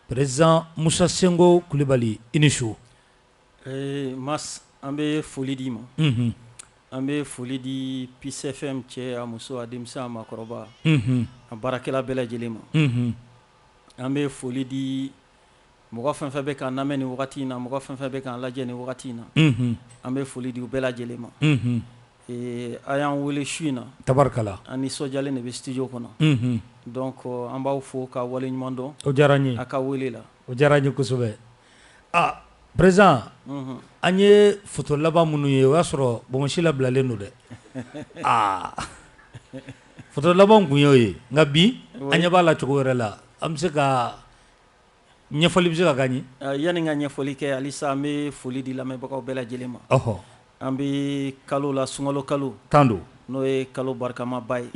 Président Musa Sinko Kulubali i ni su ee Mas an bɛ foli d'i ma an bɛ foli di Peace FM cɛ a muso a denmisɛn a makɔrɔba a baarakɛla bɛɛ lajɛlen ma an bɛ foli di mɔgɔ fɛn fɛn bɛ k'an lamɛn nin wagati in na mɔgɔ fɛn fɛn bɛ k'an lajɛ nin wagati in na an bɛ foli di u bɛɛ lajɛlen ma Ee a y'an weele su in na tabarikala an nisɔndiyalen de bɛ studio kɔnɔ donc an b'aw fo k'a waleɲuman dɔn, o diyara an ye, a ka weele la, o diyara an ye kosɛbɛ, aa president an ye photo laban minnu ye o y'a sɔrɔ bonbonsi labilalen don dɛ, aa photo laban tun y'o ye nka bi an ɲɛ b'a la cogo wɛrɛ la an bɛ se ka ɲɛfɔli bɛ se ka k'an ye yanni n ka ɲɛfɔli kɛ halisa an bɛ foli di lamɛnbagaw bɛɛ lajɛlen ma ɔhɔ an bɛ kalo la sunkalo kalo tan don n'o ye kalo barikamaba ye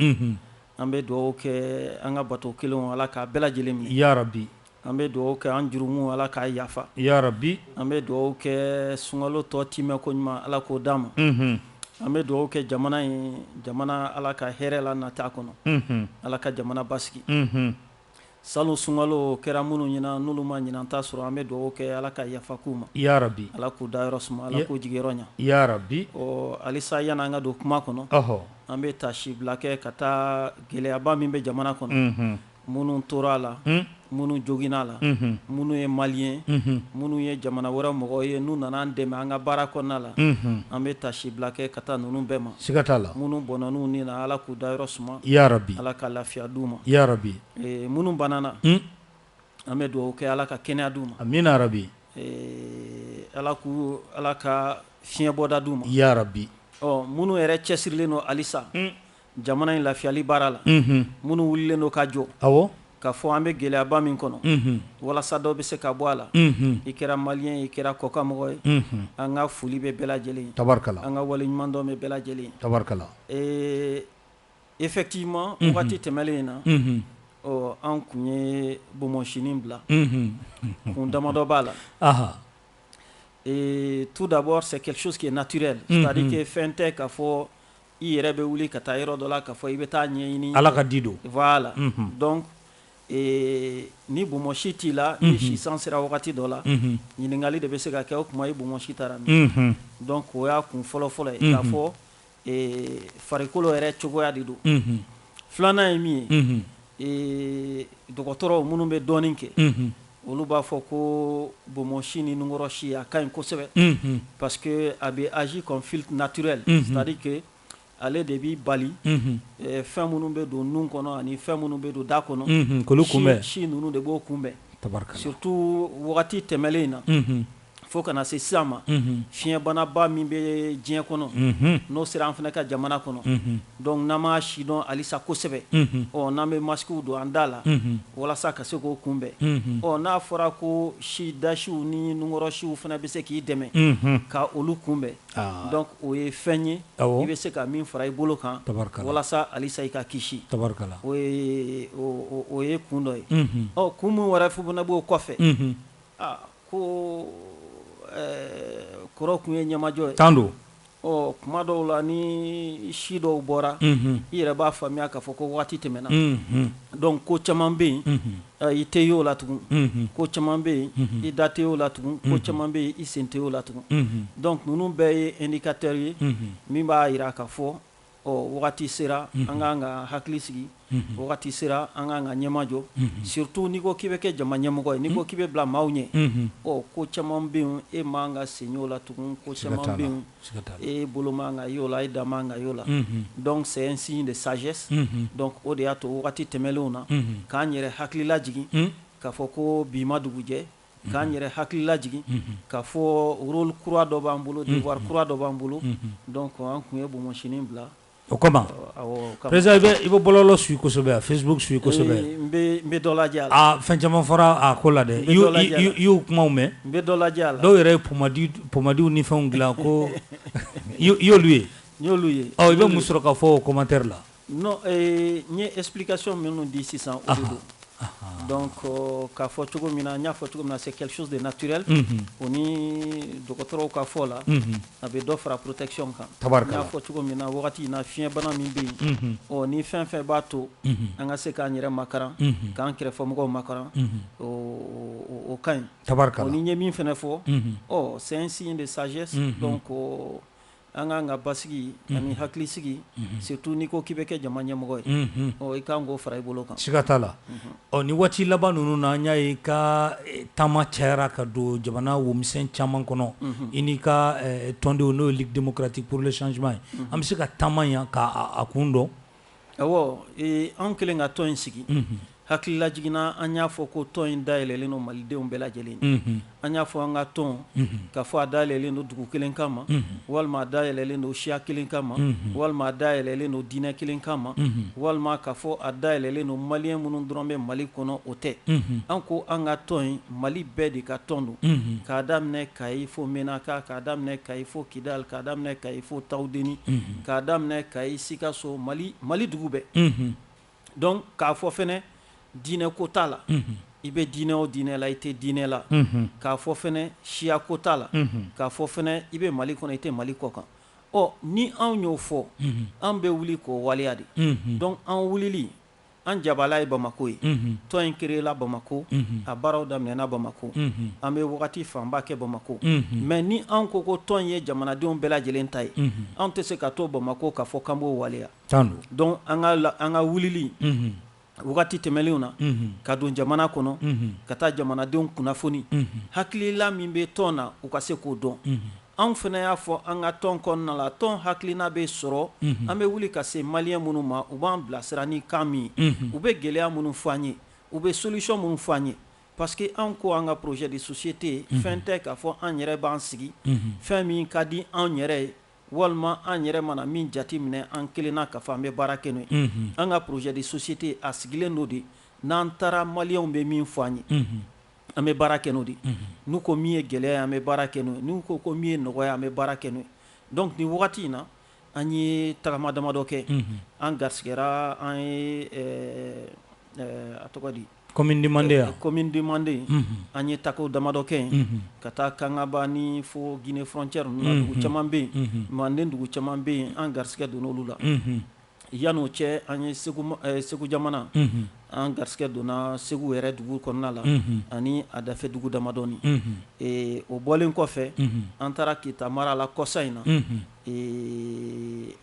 an bɛ dugawu kɛ an ka bato kɛlenw ala k'a bɛɛ lajɛlen minɛ yarabi an bɛ dugawu kɛ an jurumu ala k'a yafa yarabi an bɛ dugawu kɛ sunkalo tɔ tɛmɛ ko ɲuman ala k'o d'an ma an bɛ dugawu kɛ jamana ye jamana ala ka hɛrɛ lanat'a kɔnɔ ala ka jamana basigi Salon sunkalo kɛra minnu ɲɛna n'olu ma ɲinan ta sɔrɔ an bɛ dugawu kɛ Ala ka yafa k'u ma. Yarabi! Ala k'u dayɔrɔ suma, Ala k'u jigiyɔrɔ ɲa. Yarabi! Ɔ halisa yani an ka don kuma kɔnɔ. Ɔhɔ! An bɛ taasibila kɛ ka taa gɛlɛyaba min bɛ jamana kɔnɔ. Unhun! Minnu tora a la. Un! Minnu joginna a la. Unhun! Minnu ye Maliyɛn. Unhun! Minnu ye jamana wɛrɛ mɔgɔw ye n'u nana an dɛmɛ an ka baara kɔnɔna la. Unhun! An bɛ taasibila kɛ ka taa ninnu bɛɛ ma. siga t'a la minnu bɔnɛna u ni na ala k'u dayɔrɔ suma yarabi ala ka lafiya d'u ma yarabi minnu banana an bɛ dugawu kɛ ala ka kɛnɛya d'u ma amiina yarabi ala k'u ala ka fiɲɛbɔda d'u ma yarabi ɔ minnu yɛrɛ cɛsirilen don halisa jamana in lafiyali baara la minnu wulilen don ka jɔ awɔ K'a fɔ an bɛ gɛlɛyaba min kɔnɔ, unhun, walasa dɔ bɛ se ka bɔ a la, unhun, i kɛra maliyɛn ye, i kɛra kɔkanmɔgɔ ye, unhun, an ka foli bɛ bɛɛ lajɛlen ye, tabarikala, an ka waleɲumandɔn bɛ bɛɛ lajɛlen ye, tabarikala, ee effectivement unhun, waati tɛmɛlen in na, unhun, ɔ an tun ye bonbonsinin bila, unhun, kun damadɔ b'a la, anhan, ee tout d'abord c'est quelque chose qui est naturel, unhun, c'est à dire que fɛn tɛ k'a fɔ I yɛrɛ bɛ wuli ka taa yɔrɔ dɔ la k'a fɔ i bɛ t'a ɲɛɲini Ala ka di don voila la donc ee ni bonbonsi t'i la n'i si san sera wagati dɔ la ɲininkali de bɛ se ka kɛ o tuma i bonbonsi taara min donc o y'a kun fɔlɔ fɔlɔ ye k'a fɔ ee farikolo yɛrɛ cogoya de don filanan ye min ye ee dɔgɔtɔrɔw minnu bɛ dɔɔnin kɛ Olu b'a fɔ ko bonbonsi ni nunkɔrɔsi a ka ɲi kosɛbɛ parce que a bɛ agir comme filtre naturel c'est-à-dire que ale de b'i bali fɛn minnu bɛ don nun kɔnɔ ani fɛn minnu bɛ don da kɔnɔ k'olu kunbɛn si ninnu de b'o kunbɛn surtout wagati tɛmɛlen in na fo ka na se sisan ma fiɲɛbanaba min bɛ diɲɛ kɔnɔ n'o sera an fana ka jamana kɔnɔ donc n'an m'a sidɔn alisa kosɛbɛ ɔ n'an bɛ masquew don an da la walasa ka se k'o kunbɛn ɔ n'a fɔra ko si dasiw ni nunkɔrɔsiw fana bɛ se k'i dɛmɛ ka olu kunbɛn donc o ye fɛn ye i bɛ se ka min fara i bolo kan walasa alisa i ka kisi o ye kun dɔ ye ɔ kun min wɛrɛ fo fana b'o kɔfɛ Ko kɔrɔ kun ye ɲɛmajɔ ye tan don kuma dɔw la ni si dɔw bɔra i yɛrɛ b'a faamuya k'a fɔ ko waati tɛmɛna donc ko caman bɛ yen i tɛ y'o la tugun ko caman bɛ yen i da tɛ y'o la tugun ko caman bɛ yen i sen tɛ y'o la tugun donc ninnu bɛɛ ye indicateur ye min b'a jira k'a fɔ ɔ wagati sera an k'an ka hakili sigi wagati sera an k'an ka ɲɛmajɔ surtout n'i ko k'i bɛ kɛ jama ɲɛmɔgɔ ye n'i ko k'i bɛ bila maaw ɲɛ ɔ ko caman bɛ yen e man ka sen y'o la tugun ko caman bɛ yen e bolo man ka y'o la e da man ka y'o la donc c'est un signe de sagesse donc o de y'a to wagati tɛmɛnlenw na k'an yɛrɛ hakili lajigin k'a fɔ ko bi ma dugujɛ k'an yɛrɛ hakili lajigin k'a fɔ rôle kura dɔ b'an bolo devoir kura dɔ b'an bolo donc an kun ye bonbonsini bila o kama président i bɛ i bɛ bɔlɔlɔ suit kosɛbɛ wa Facebook suit kosɛbɛ ee n bɛ n bɛ dɔ lajɛ a la aa fɛn caman fɔra a ko la dɛ i y'o i y'o kumaw mɛn n bɛ dɔ lajɛ a la dɔw yɛrɛ ye pomadi pomadiw ni fɛnw dilan ko i y'olu ye n y'olu ye ɔ i bɛ mun sɔrɔ ka fɔ o commentaire la Non ee n ye explication minnu di sisan o de don, anhan, donc k'a fɔ cogo min na n y'a fɔ cogo min na c'est quelque chose de naturel unhun, o ni dɔgɔtɔrɔw ka fɔ la, unhun, a bɛ dɔ fara protection kan, tabarikala, n y'a fɔ cogo min na wagati in na fiɲɛbana min bɛ yen, unhun, ɔ ni fɛn o fɛn b'a to, unhun, an ka se k'an yɛrɛ makaran, unhun, k'an kɛrɛfɛmɔgɔw makaran, unhun, o ka ɲi, tabarikala, o ni n ye min fɛnɛ fɔ, unhun, ɔ c'est un signe de sagesse, unhun, donc An k'an ka basigi ani hakilisigi surtout n'i ko k'i bɛ kɛ jama ɲɛmɔgɔ ye i kan k'o fara i bolo kan siga t'a la ɔ ni waati laban ninnu na an y'a ye i ka taama cayara ka don jamana womisɛn caman kɔnɔ i n'i ka tɔndenw n'o ye Ligue démocratique pour le changement ye an bɛ se ka taama yan k'a kun dɔn Ɔwɔ anw kɛlen ka tɔn in sigi hakili lajigin na an y'a fɔ ko tɔn in dayɛlɛnlen don malidenw bɛɛ lajɛlen an y'a fɔ an ka tɔn k'a fɔ a dayɛlɛnlen don dugu kelen kama walima a dayɛlɛnlen don siya kelen kama walima a dayɛlɛnlen don diinɛ kelen kama walima k'a fɔ a dayɛlɛnlen don maliyɛn minnu dɔrɔn bɛ mali kɔnɔ o tɛ an ko an ka tɔn in Mali bɛɛ de ka tɔn don k'a daminɛ kayi fo menaka k'a daminɛ kayi fo kidal k'a daminɛ kayi fo tawudeni k'a daminɛ kayi sikaso mali mali dugu bɛɛ donc k'a fɔ fana diinɛ ko t'a la i bɛ diinɛ o diinɛ la i tɛ diinɛ la k'a fɔ fana siya ko t'a la k'a fɔ fana i bɛ mali kɔnɔ i tɛ mali kɔ kan ɔ ni anw y'o fɔ an bɛ wuli k'o waleya de donc an wulili An jabala ye Bamako ye. Unhun. Tɔn in créer la Bamako. Unhun. A baaraw daminɛna Bamako. Unhun. An bɛ wagati fanba kɛ Bamako. Unhun. Mais ni anw ko ko tɔn in ye jamanadenw bɛɛ lajɛlen ta ye. Unhun. Anw tɛ se ka to Bamako k'a fɔ k'an b'o waleya. Tan don. Donc an ka la an ka wulili. Unhun. Wagati tɛmɛnlenw na. Unhun. Ka don jamana kɔnɔ. Unhun. Ka taa jamanadenw kunnafoni. Unhun. Hakilila min bɛ tɔn na, u ka se k'o dɔn. Unhun. Anw fana y'a fɔ an ka tɔn kɔnɔna la, tɔn hakilina bɛ sɔrɔ, unhun, an bɛ wuli ka se maliyɛn minnu ma, u b'an bilasira ni kan min ye, unhun, u bɛ gɛlɛya minnu fɔ an ye, u bɛ solution minnu fɔ an ye parce que anw ko an ka projet de société fɛn tɛ k'a fɔ an yɛrɛ b'an sigi, unhun, fɛn min ka di anw yɛrɛ ye walima an yɛrɛ mana min jate minɛ an kelenna k'a fɔ an bɛ baara kɛ n'o ye, unhun, an ka projet de société a sigilen don de n'an taara maliyɛnw bɛ min fɔ an ye, unhun. an bɛ baara kɛ n'o de n'u ko min ye gɛlɛya an bɛ baara kɛ n'o ye n'u ko ko min ye nɔgɔya an bɛ baara kɛ n'o ye donc nin wagati in na an ye tagama damadɔ kɛ an garisɛgɛra an ye a tɔgɔ di commune du manden commune du manden an ye taako damadɔ kɛ yen ka taa kangaba ni fo guinée frontière ninnu na dugu caman bɛ yen manden dugu caman bɛ yen an garisɛgɛ donna olu la Yan'o cɛ an ye segu jamana an garisɛgɛ donna segu yɛrɛ dugu kɔnɔna la ani a dafɛ dugu damadɔnin o bɔlen kɔfɛ an taara kita mara la kɔsa in na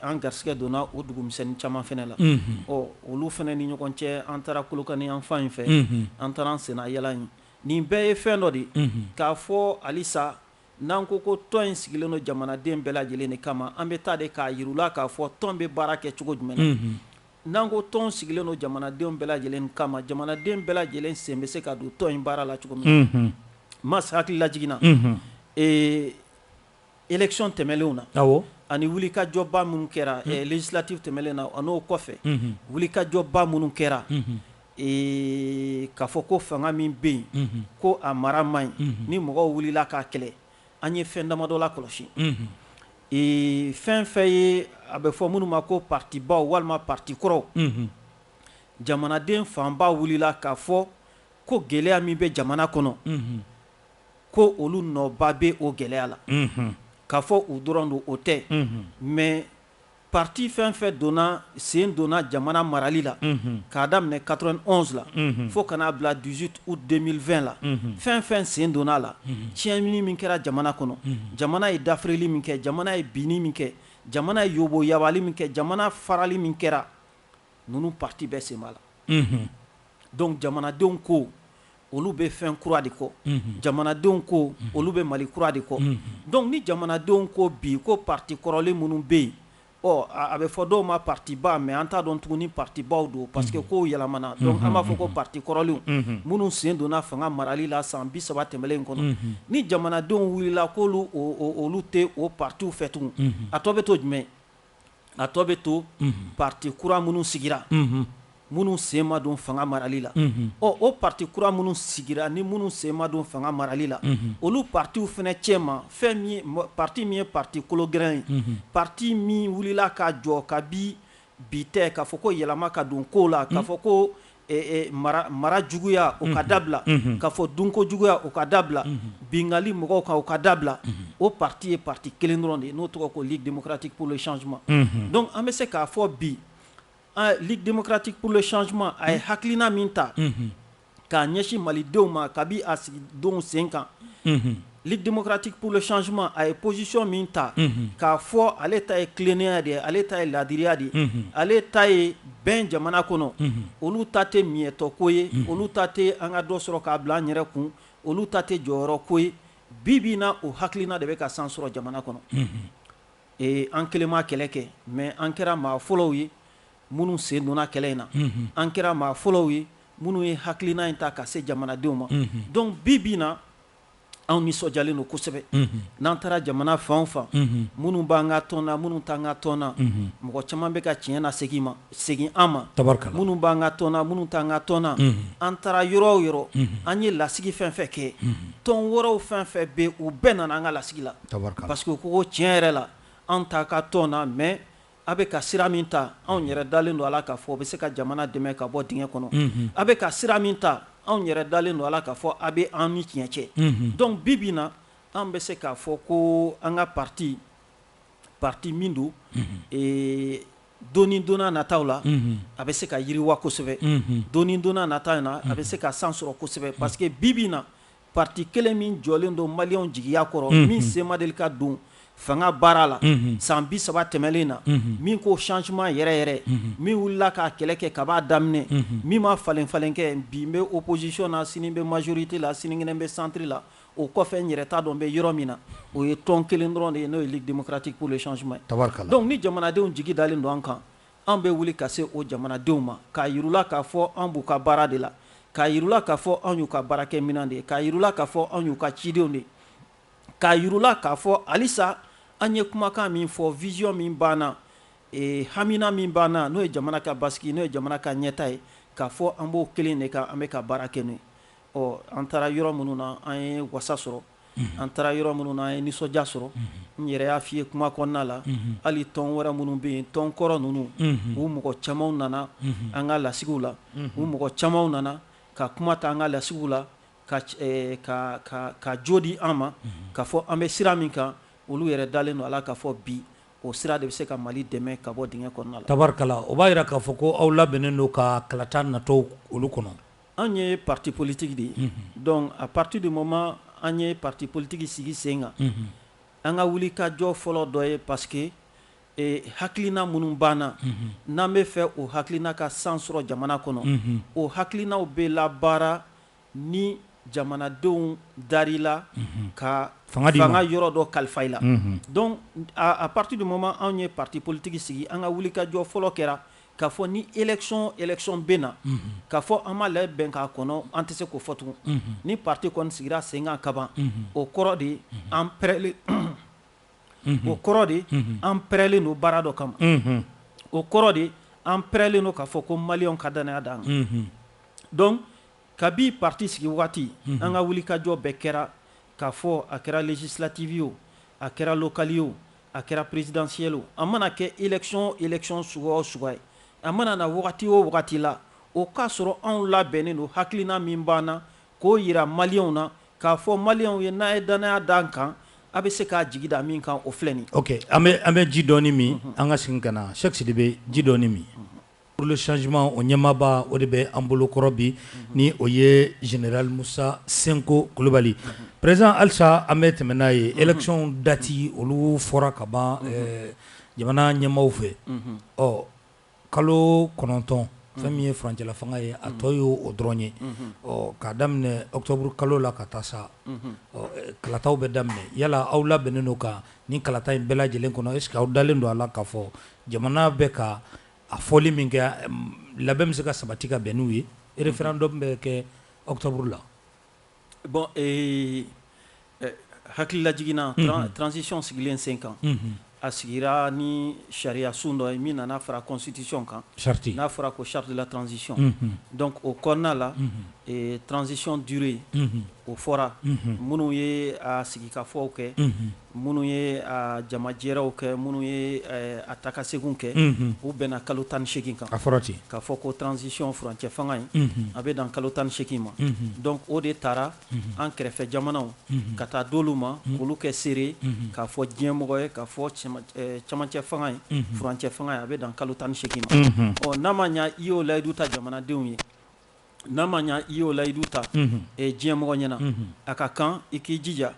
an garisɛgɛ donna o dugumisɛnnin caman fana la ɔ olu fana ni ɲɔgɔn cɛ an taara kolokani yan fan in fɛ an taara an senna yaala in nin bɛɛ ye fɛn dɔ de ye k'a fɔ halisa N'an ko ko tɔn in sigilen don jamanaden bɛɛ lajɛlen de kama, an bɛ taa de k'a jira u la k'a fɔ tɔn bɛ baara kɛ cogo jumɛn na. N'an ko tɔn sigilen don jamanadenw bɛɛ lajɛlen kama, jamanaden bɛɛ lajɛlen sen bɛ se ka don tɔn in baara la cogo min na. Mas hakili lajigin na élection tɛmɛnlenw na ani wulikajɔba minnu kɛra législatives tɛmɛnlen na an'o kɔfɛ wulikajɔba minnu kɛra. Ee k'a fɔ ko fanga min bɛ yen ko a mara man ɲi ni mɔgɔw wulila k'a kɛlɛ an ye fɛn damadɔ lakɔlɔsi ee fɛn fɛn ye a bɛ fɔ minnu ma ko partibaw walima parti kɔrɔw jamanaden fanba wulila k'a fɔ ko gɛlɛya min bɛ jamana kɔnɔ ko olu nɔba bɛ o gɛlɛya la k'a fɔ u dɔrɔn don o tɛ mais Parti fɛn o fɛn donna sen donna jamana marali la, unhun, k'a daminɛ 91 la, unhun, fo ka n'a bila 18 août 2020 la, unhun, fɛn o fɛn sen donna a la, unhun, tiɲɛni min kɛra jamana kɔnɔ, unhun, jamana ye dafirili min kɛ, jamana ye binni min kɛ, jamana ye yobo-yabali min kɛ, jamana farali min kɛra, ninnu parti bɛɛ sen b'a la, unhun, donc jamanadenw ko olu bɛ fɛn kura de kɔ jamanadenw ko olu bɛ mali kura de kɔ donc ni jamanadenw ko bi ko parti kɔrɔlen minnu bɛ yen ɔ a bɛ fɔ dɔw ma partiba mais an t'a dɔn tugun ni partibaw don parce que kow yɛlɛmana donc an b'a fɔ ko parti kɔrɔlen minnu sen donna fanga marali la san bi saba tɛmɛlen in kɔnɔ ni jamanadenw wulila k'olu olu tɛ o partiw fɛ tugun a tɔ bɛ to jumɛn a tɔ bɛ to parti kura minnu sigira minnu sen ma don fanga marali la ɔ o parti kura minnu sigira ni minnu sen ma don fanga marali la olu partiw fɛnɛ cɛma fɛn min ye parti min ye parti kologirin ye parti min wulila ka jɔ kabi bi tɛ k'a fɔ ko yɛlɛma ka don kow la k'a fɔ ko mara juguya o ka dabila k'a fɔ dunko juguya o ka dabila bingali mɔgɔw kan o ka dabila o parti ye parti kelen dɔrɔn de ye n'o tɔgɔ ko Ligue démocratique pour le changement donc an bɛ se k'a fɔ bi Ligue démocratique pour le changement a ye hakilina min ta k'a ɲɛsin malidenw ma kabi a sigi don sen kan Ligue démocratique pour le changement a ye position min ta, unhun, k'a fɔ ale ta ye tilennenya de ye, ale ta ye laadiriya de ye, unhun, ale ta ye bɛn jamana kɔnɔ, unhun, olu ta tɛ miɲɛtɔko ye, unhun, olu ta tɛ an ka dɔ sɔrɔ k'a bila an yɛrɛ kun, olu ta tɛ jɔyɔrɔko ye, bi bi in na o hakilina de bɛ ka san sɔrɔ jamana kɔnɔ, unhun, ee an kelen ma kɛlɛ kɛ mais an kɛra maa fɔlɔw ye minnu sen donna kɛlɛ in na, unhun, an kɛra maa fɔlɔw ye minnu ye hakilina in ta ka se jamanadenw ma, unhun, donc bi bi in na anw nisɔndiyalen don kosɛbɛ n'an taara jamana fan o fan minnu b'an ka tɔn na minnu t'an ka tɔn na mɔgɔ caman bɛ ka tiɲɛ na segin ma segin an ma minnu b'an ka tɔn na minnu t'an ka tɔn na an taara yɔrɔ o yɔrɔ an ye lasigi fɛn fɛn kɛ tɔn wɛrɛw fɛn fɛn bɛ u bɛɛ nana an ka lasigi la parce que ko tiɲɛ yɛrɛ la an t'a ka tɔn na mais A bɛ ka sira min ta anw yɛrɛ dalen don a la k'a fɔ o bɛ se ka jamana dɛmɛ ka bɔ dingɛ kɔnɔ a bɛ ka sira min ta anw yɛrɛ dalen don a la k'a fɔ a bɛ an ni tiɲɛ cɛ donc bi bi na an bɛ se k'a fɔ ko an ka parti parti min don don ni don nataw la a bɛ se ka yiriwa kosɛbɛ don ni don nataw na a bɛ se ka san sɔrɔ kosɛbɛ parce que bi bi na Parti kelen min jɔlen don maliyɛnw jigiya kɔrɔ min sen ma deli ka don fanga baara la san bi saba tɛmɛnen na min ko changement yɛrɛ yɛrɛ min wulila k'a kɛlɛ kɛ kab'a daminɛ min ma falen falen kɛ bi n bɛ opposition na sini n bɛ majorité la sinikɛnɛ bɛ centre la o kɔfɛ n yɛrɛ t'a dɔn n bɛ yɔrɔ min na o ye tɔn kelen dɔrɔn de ye n'o ye Ligue démocratique pour le changement donc ni jamanadenw jigi dalen don an kan An bɛ wuli ka se o jamanadenw ma, k'a yir'u la k'a fɔ an b'u ka baara de la, k'a yir'u la k'a fɔ an y'u ka baarakɛminɛn de ye, k'a yir'u la k'a fɔ an y'u ka cidenw de ye, k'a yir'u la k'a fɔ halisa an ye kumakan min fɔ, vision min b'an na, hamina min b'an na, n'o ye jamana ka basigi, n'o ye jamana ka ɲɛtaa ye, k'a fɔ an b'o kelen de kan, an bɛ ka baara kɛ n'o ye. Ɔ an taara yɔrɔ minnu na, an ye wasa sɔrɔ. an taara yɔrɔ minnu na an ye nisɔndiya sɔrɔ n yɛrɛ y'a fɔ i ye kuma kɔnɔna la hali tɔn wɛrɛ minnu bɛ yen tɔn kɔrɔ ninnu u mɔgɔ camanw nana an ka lasigiw la u mɔgɔ camanw nana ka kuma ta an ka lasigiw la ka jo di an ma k'a fɔ an bɛ sira min kan olu yɛrɛ dalen don a la k'a fɔ bi o sira de bɛ se ka mali dɛmɛ ka bɔ dingɛ kɔnɔna la tabarikala o b'a jira k'a fɔ ko aw labɛnnen don ka kalata natɔ olu kɔnɔ Anw ye parti politique de ye, unhun, donc à partir du moment an ye parti politique sigi sen kan, unhun, an ka wuli ka jɔ fɔlɔ dɔ ye parce que ee hakilina minnu b'an na, unhun, n'an bɛ fɛ o hakilina ka san sɔrɔ jamana kɔnɔ, unhun, o hakilinaw bɛ labaara ni jamanadenw dar'i la, unhun, ka fanga yɔrɔ dɔ kalifa i la, unhun, donc à partir du moment anw ye parti politique sigi an ka wuli ka jɔ fɔlɔ kɛra K'a fɔ ni élection o élection bɛ na k'a fɔ an ma labɛn k'a kɔnɔ an tɛ se k'o fɔ tugun ni parti kɔni sigira sen kan kaban o kɔrɔ de ye an pɛrɛlen o kɔrɔ de ye an pɛrɛlen don baara dɔ kama o kɔrɔ de ye an pɛrɛlen don k'a fɔ ko maliyɛnw ka dannaya d'an kan donc kabi parti sigi wagati an ka wulikajɔ bɛɛ kɛra k'a fɔ a kɛra législative ye o a kɛra locale ye o A kɛra présidentielle o, a mana kɛ élection o élection suguya o suguya ye, a mana na wagati o wagati la, o k'a sɔrɔ anw labɛnnen don hakilina min b'an na, k'o yira maliyɛnw na, k'a fɔ maliyɛnw ye n'a ye dannaya da an kan, a bɛ se k'a jigi da min kan, o filɛ nin ye. Ok, an bɛ ji dɔɔni min, an ka segin ka na Sɛki Sidibe, ji dɔɔni min. Pour le changement o ɲɛmaaba o de bɛ an bolokɔrɔ bi ni o ye général musa senko kulubali président halisa an bɛ tɛmɛ n'a ye élection dati olu fɔra ka ban jamana ɲɛmaaw fɛ ɔ kalo kɔnɔntɔn fɛn min ye furancɛla fanga ye a tɔ ye o dɔrɔn ye ɔ k'a daminɛ octobre kalo la ka taa sa kalataw bɛ daminɛ yala aw labɛnnen don ka ni kalata in bɛɛ lajɛlen kɔnɔ est-ce que aw dalen don a la k'a fɔ jamana bɛ ka a fɔli min kɛ labɛn bɛ se ka sabati ka bɛn n'u ye référendum bɛ kɛ octobre la bon hakililajigin na transition sigilen sen kan a sigira ni sariya sun dɔ ye min nana fara constitution kan n'a fɔra ko charte de la transition donc o kɔnɔna la transisiɔn duuru ye o fɔra minnu ye a sigikafɔw kɛ minnu ye a jamajɛrɛw kɛ minnu ye a taakasegin kɛ u bɛnna kalo tan ni segin kan k'a fɔ ko transition furancɛ fanga in a bɛ dan kalo tan ni segin ma donc o de taara an kɛrɛfɛ jamanaw ka taa d'olu ma k'olu kɛ seere k'a fɔ diɲɛmɔgɔ ye k'a fɔ camancɛ fanga in furancɛ fanga in a bɛ dan kalo tan ni segin ma ɔ n'a ma ɲɛ i y'o layidu ta jamanadenw ye n'a ma ɲɛ i y'o layidu ta diɲɛmɔgɔ ɲɛna a ka kan i k'i jija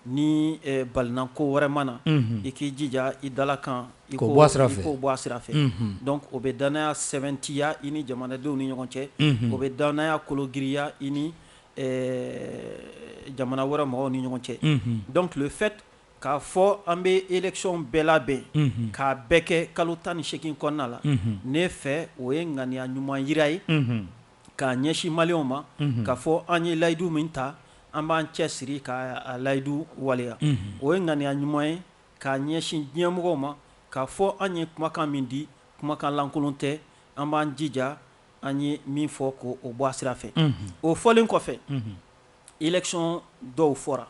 Ni balinako wɛrɛ ma na i k'i jija i dala kan i k'o bɔ a sira fɛ donc o bɛ dannaya sɛbɛntiya i ni jamanadenw ni ɲɔgɔn cɛ o bɛ dannaya kologiriya i ni jamana wɛrɛ mɔgɔw ni ɲɔgɔn cɛ donc le fait k'a fɔ an bɛ élection bɛɛ labɛn k'a bɛɛ kɛ kalo tan ni segin kɔnɔna la ne fɛ o ye ŋaniya ɲuman jira ye k'a ɲɛsin maliyɛnw ma k'a fɔ an ye layidu min ta an b'an cɛ siri k'a layidu waleya o ye ŋaniya ɲuman ye k'a ɲɛsin diɲɛ mɔgɔw ma k'a fɔ an ye kumakan min di kumakan lankolon tɛ an b'an jija an ye min fɔ k'o bɔ a sira fɛ o fɔlen kɔfɛ élection dɔw fɔra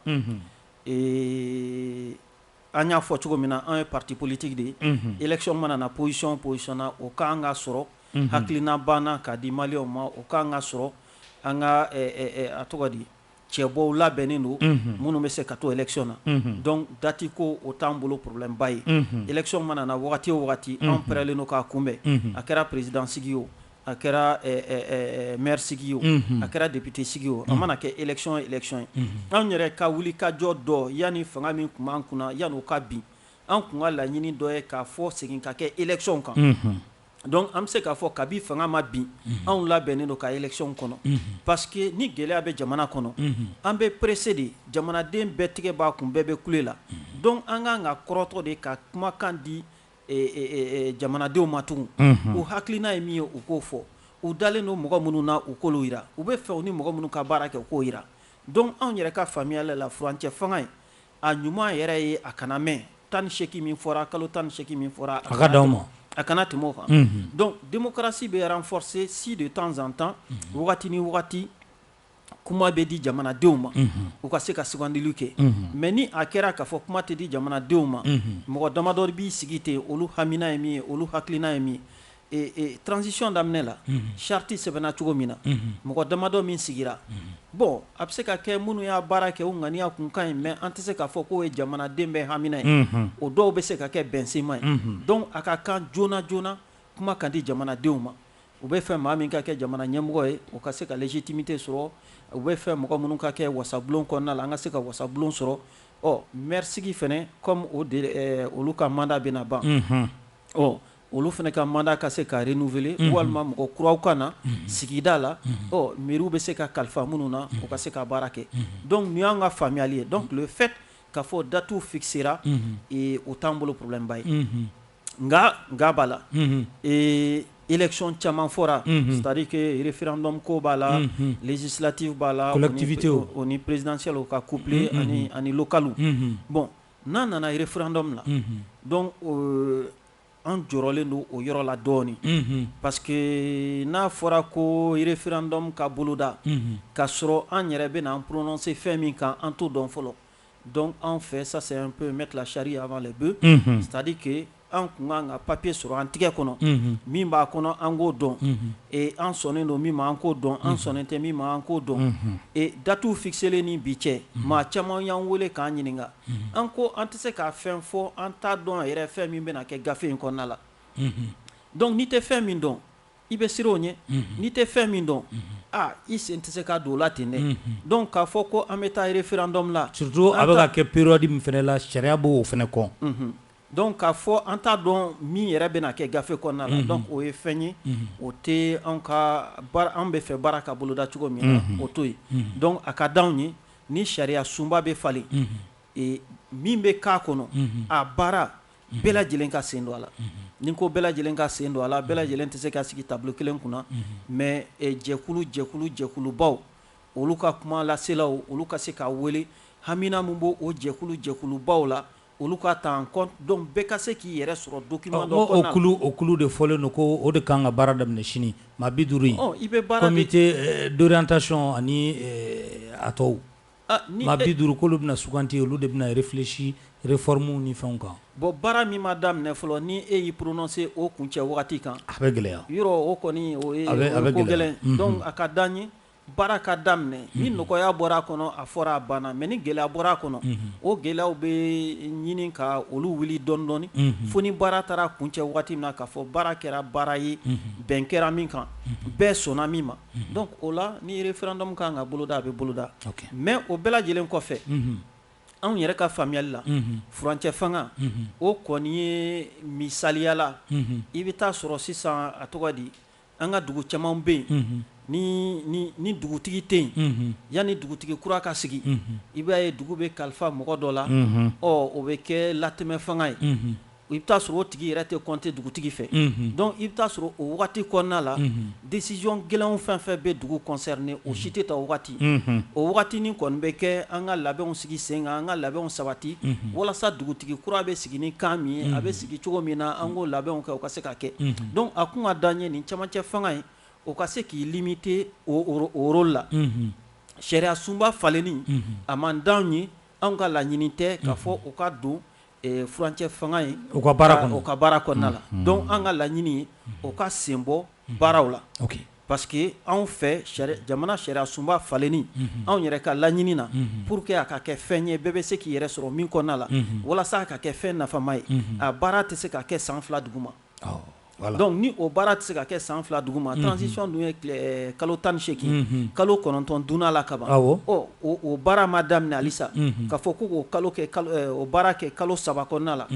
An y'a fɔ cogo min na an ye parti politique de ye élection mana na position o position na o ka kan ka sɔrɔ hakilina b'an na k'a di maliyɛnw ma o ka kan ka sɔrɔ an ka a tɔgɔ di cɛbɔw labɛnnen don minnu bɛ se ka to élection na donc dati ko o t'an bolo problème ba ye élection mana na wagati o wagati an pɛrɛlen don k'a kunbɛn a kɛra président sigi o a kɛra maire sigi o a kɛra député sigi o a mana kɛ élection o élection ye anw yɛrɛ ka wulikajɔ dɔ yanni fanga min tun b'an kunna yanni o ka bin an tun ka laɲini dɔ ye k'a fɔ segin ka kɛ élection kan donc an bɛ se k'a fɔ kabi fanga ma bin anw labɛnnen don ka élection kɔnɔ parce que ni gɛlɛya bɛ jamana kɔnɔ an bɛ pressé de jamanaden bɛɛ tigɛ b'a kun bɛɛ bɛ kule la donc an ka kan ka kɔrɔtɔ de ka kumakan di jamanadenw ma tugun u hakilina ye min ye u k'o fɔ u dalen don mɔgɔ minnu na u k'olu yira u bɛ fɛ u ni mɔgɔ minnu ka baara kɛ u k'o yira donc anw yɛrɛ ka faamuyali la furancɛ fanga in a ɲuman yɛrɛ ye a kana mɛn tan ni seegin min fɔra kalo tan ni seegin min fɔra a ka di aw ma a kana tɛmɛ o kan donc démocratie bɛ renforcer si de temps en temps wagati ni kuma bɛ di jamanadenw ma u ka se ka sugandili kɛ mais ni a kɛra k'a fɔ kuma tɛ di jamanadenw ma mɔgɔ damadɔ b'i sigi ten olu hamina ye min ye olu hakilina ye min ye transition daminɛ la charte sɛbɛnna cogo min na mɔgɔ damadɔ min sigira bon a bɛ se ka kɛ minnu y'a baara kɛ u ŋaniya kun ka ɲi mais an tɛ se k'a fɔ k'o ye jamanaden bɛɛ hamina ye o dɔw bɛ se ka kɛ bɛnsenma ye donc a ka kan joona joona kuma ka di jamanadenw ma U bɛ fɛ maa min ka kɛ jamana ɲɛmɔgɔ ye o ka se ka légitimité sɔrɔ u bɛ fɛ mɔgɔ minnu ka kɛ wasabulon kɔnɔna la an ka se ka wasabulon sɔrɔ ɔ mɛrisigi fɛnɛ comme olu ka mandat bɛna ban ɔ olu fɛnɛ ka mandat ka se ka renouveler walima mɔgɔ kuraw ka na sigida la ɔ mairiew bɛ se ka kalifa minnu na u ka se ka baara kɛ donc nin y'an ka faamuyali ye donc le fait k'a fɔ datew fixera o t'an bolo problèmeba ye nka nka b'a la ee econ caman fɔra tarikefrinmu ko b'a la jisilati b'a latibite o ni perezdansi ka kuple ani kalo bɔn n'a nana yirifrandɔ dɔ min na dɔn an jɔyɔrɔlen don o yɔrɔ la dɔɔnin pa que n'a fɔra ko yirifrandɔn ka boloda k ka sɔrɔ an yɛrɛ bɛna an pse fɛn min kan an to dɔn fɔlɔ Donc en fait ça c'est un peu mettre la charrue avant les bœufs c'est-à-dire que an kun kan ka papier sɔrɔ an tɛgɛ kɔnɔ min b'a kɔnɔ an k'o dɔn an sɔnnen don min ma an k'o dɔn an sɔnnen tɛ min ma an k'o dɔn datew fixelen ni bi cɛ maa caman y'an weele k'an ɲininka an ko an tɛ se k'a fɛn fɔ an t'a dɔn yɛrɛ fɛn min bɛna kɛ gafe in kɔnɔna la donc n'i tɛ fɛn min dɔn i bɛ siran o ɲɛ n'i tɛ fɛn min dɔn aa i sen tɛ se ka don o la ten dɛ donc k'a fɔ ko an bɛ taa référendum la surtout a bɛ ka kɛ période min fɛnɛ la sariya b'o fɛnɛ kɔn donc k'a fɔ an t'a dɔn min yɛrɛ bɛna kɛ gafe kɔnɔna la donc o ye fɛn ye o tɛ an ka an bɛ fɛ baara ka boloda cogo min na o t'o ye donc a ka di anw ye ni sariya sunba bɛ falen min bɛ k'a kɔnɔ a baara bɛɛ lajɛlen ka sen don a la ni ko bɛɛ lajɛlen ka sen don a la bɛɛ lajɛlen tɛ se ka sigi tabali kelen kunna mais jɛkulu jɛkulu jɛkulubaw olu ka kuma laselaw olu ka se ka weele hamina min b'o jɛkulu jɛkulubaw la olu ka ta en compte donc bɛɛ ka se k'i yɛrɛ sɔrɔ document la o kulu de fɔlen don ko o de kan ka baara daminɛ sini maa bi duuru i bɛ baara comité d'orientation ani a tɔw Maa bi duuru k'olu bɛna suganti olu de bɛna réfléchir réforme ni fɛnw kan bon baara min ma daminɛ fɔlɔ ni e y'i prononcer o kuncɛ wagati kan a bɛ gɛlɛya yɔrɔ o kɔni ka gɛlɛn donc a ka d'an ye baara ka daminɛ ni nɔgɔya bɔra a kɔnɔ a fɔra a banna mais ni gɛlɛya bɔra a kɔnɔ o gɛlɛyaw bɛ ɲini ka olu wuli dɔɔni dɔɔni fo ni baara taara kuncɛ wagati min na k'a fɔ baara kɛra baara ye bɛn kɛra min kan bɛɛ sɔnna min ma donc o la ni référendum kan ka boloda a bɛ boloda mais o bɛɛ lajɛlen kɔfɛ anw yɛrɛ ka faamuyali la furancɛ fanga o kɔni ye misaliya la i bɛ taa sɔrɔ sisan a tɔgɔ di an ka dugu caman bɛ yen ni dugutigi tɛ yen yanni dugutigi kura ka sigi i b'a ye dugu bɛ kalifa mɔgɔ dɔ la ɔ o bɛ kɛ latɛmɛ fanga ye i bɛ taa sɔrɔ o tigi yɛrɛ tɛ compter dugutigi fɛ donc i bɛ taa sɔrɔ o wagati kɔnɔna la décision gɛlɛnw fɛn fɛn bɛ dugu concerner o si tɛ ta o wagati o wagati ni kɔni bɛ kɛ an ka labɛnw sigi sen kan an ka labɛnw sabati walasa dugutigi kura bɛ sigi ni kan min ye a bɛ sigi cogo min na an k'o labɛnw kɛ o ka se ka kɛ donc a kun ka d'an ye nin camancɛ fanga ye o ka se k'i limiter o rôle la sariya sunba falenni a man d'an ye anw ka laɲini tɛ k'a fɔ o ka don furancɛ fanga ye o ka baara kɔnɔna la donc an ka laɲini ye o ka sen bɔ baaraw la parce que anw fɛ jamana sariya sunba falenni anw yɛrɛ ka laɲini na pour que a ka kɛ fɛn ye bɛɛ bɛ se k'i yɛrɛ sɔrɔ min kɔnɔna la walasa a ka kɛ fɛn nafama ye a baara tɛ se ka kɛ san fila duguma donc ni o baara tɛ se ka kɛ san fila duguma transition dun ye kalo tan ni segin kalo kɔnɔntɔn dunna a la kaban o baara ma daminɛ halisa k'a fɔ ko kalo o baara kɛ kalo saba kɔnɔna la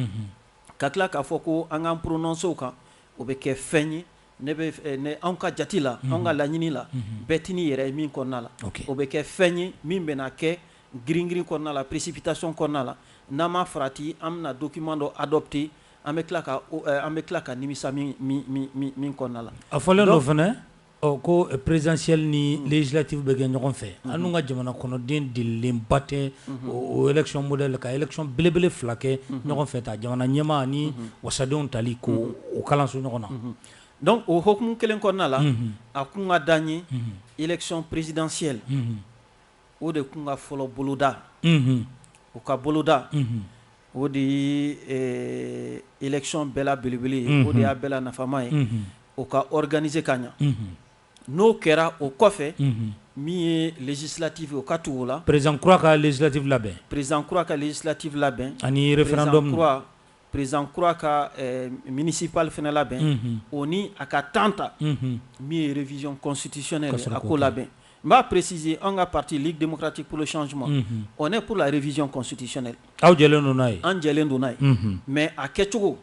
ka tila k'a fɔ ko an k'an prononcer o kan o bɛ kɛ fɛn ye ne anw ka jate la an ka laɲini la bɛɛ tɛn'i yɛrɛ ye min kɔnɔna la o bɛ kɛ fɛn ye min bɛna kɛ girin-girin kɔnɔna la précipitation kɔnɔna la n'an ma farati an bɛna document dɔ adopter An bɛ tila ka an bɛ tila ka nimisa min kɔnɔna la a fɔlen dɔ fɛnɛ ko présidentielle ni législative bɛ kɛ ɲɔgɔn fɛ anw ka jamana kɔnɔden delilenba tɛ o élection modèle la ka élection belebele fila kɛ ɲɔgɔn fɛ ta jamana ɲɛmaa ni wasadenw tali ko o kalanso ɲɔgɔn na donc o hukumu kelen kɔnɔna la a kun ka d'an ye élection présidentielle o de kun ka fɔlɔ boloda o ka boloda o de ye élection bɛɛ la belebele ye o de y'a bɛɛ la nafama ye o ka organiser ka ɲa n'o kɛra o kɔfɛ min ye législative o ka tugu o la président kura ka législative labɛn président kura ka législative labɛn ani référendum Perezan kura ka minisipli fana labɛn o ni a ka tan ta min yezɔnsitisɛ a ko labɛn n b'a presiz an ka pati denmusomuti psicɔn suma ɔ ne ko rezsɔnɔnsitesɛɛ aw lajɛlen n'a ye an lajɛlen don n'a ye mɛ a kɛcogo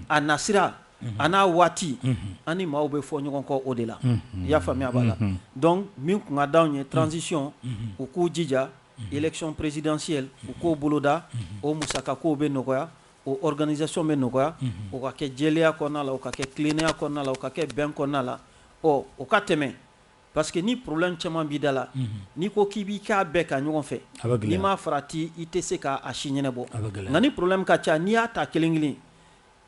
a nasira a n'a waati an ni maaw bɛ fɔ ɲɔgɔn kɔ o de la i y'a faamuya b'a la dɔn min kunkan' ye transisiɔn u k'u jija election présidentielle u k'o boloda o musaka kow bɛ nɔgɔya o organisation bɛ nɔgɔya o ka kɛ jɛlenya kɔnɔna la o ka kɛ tilennenya kɔnɔna la o ka kɛ bɛn kɔnɔna la ɔ o ka tɛmɛ parce que ni problème caman b'i da la n'i ko k'i b'i k'a bɛɛ kɛ ɲɔgɔn fɛ n'i ma farati i tɛ se k'a si ɲɛnabɔ nka ni problème ka ca n'i y'a ta kelen kelen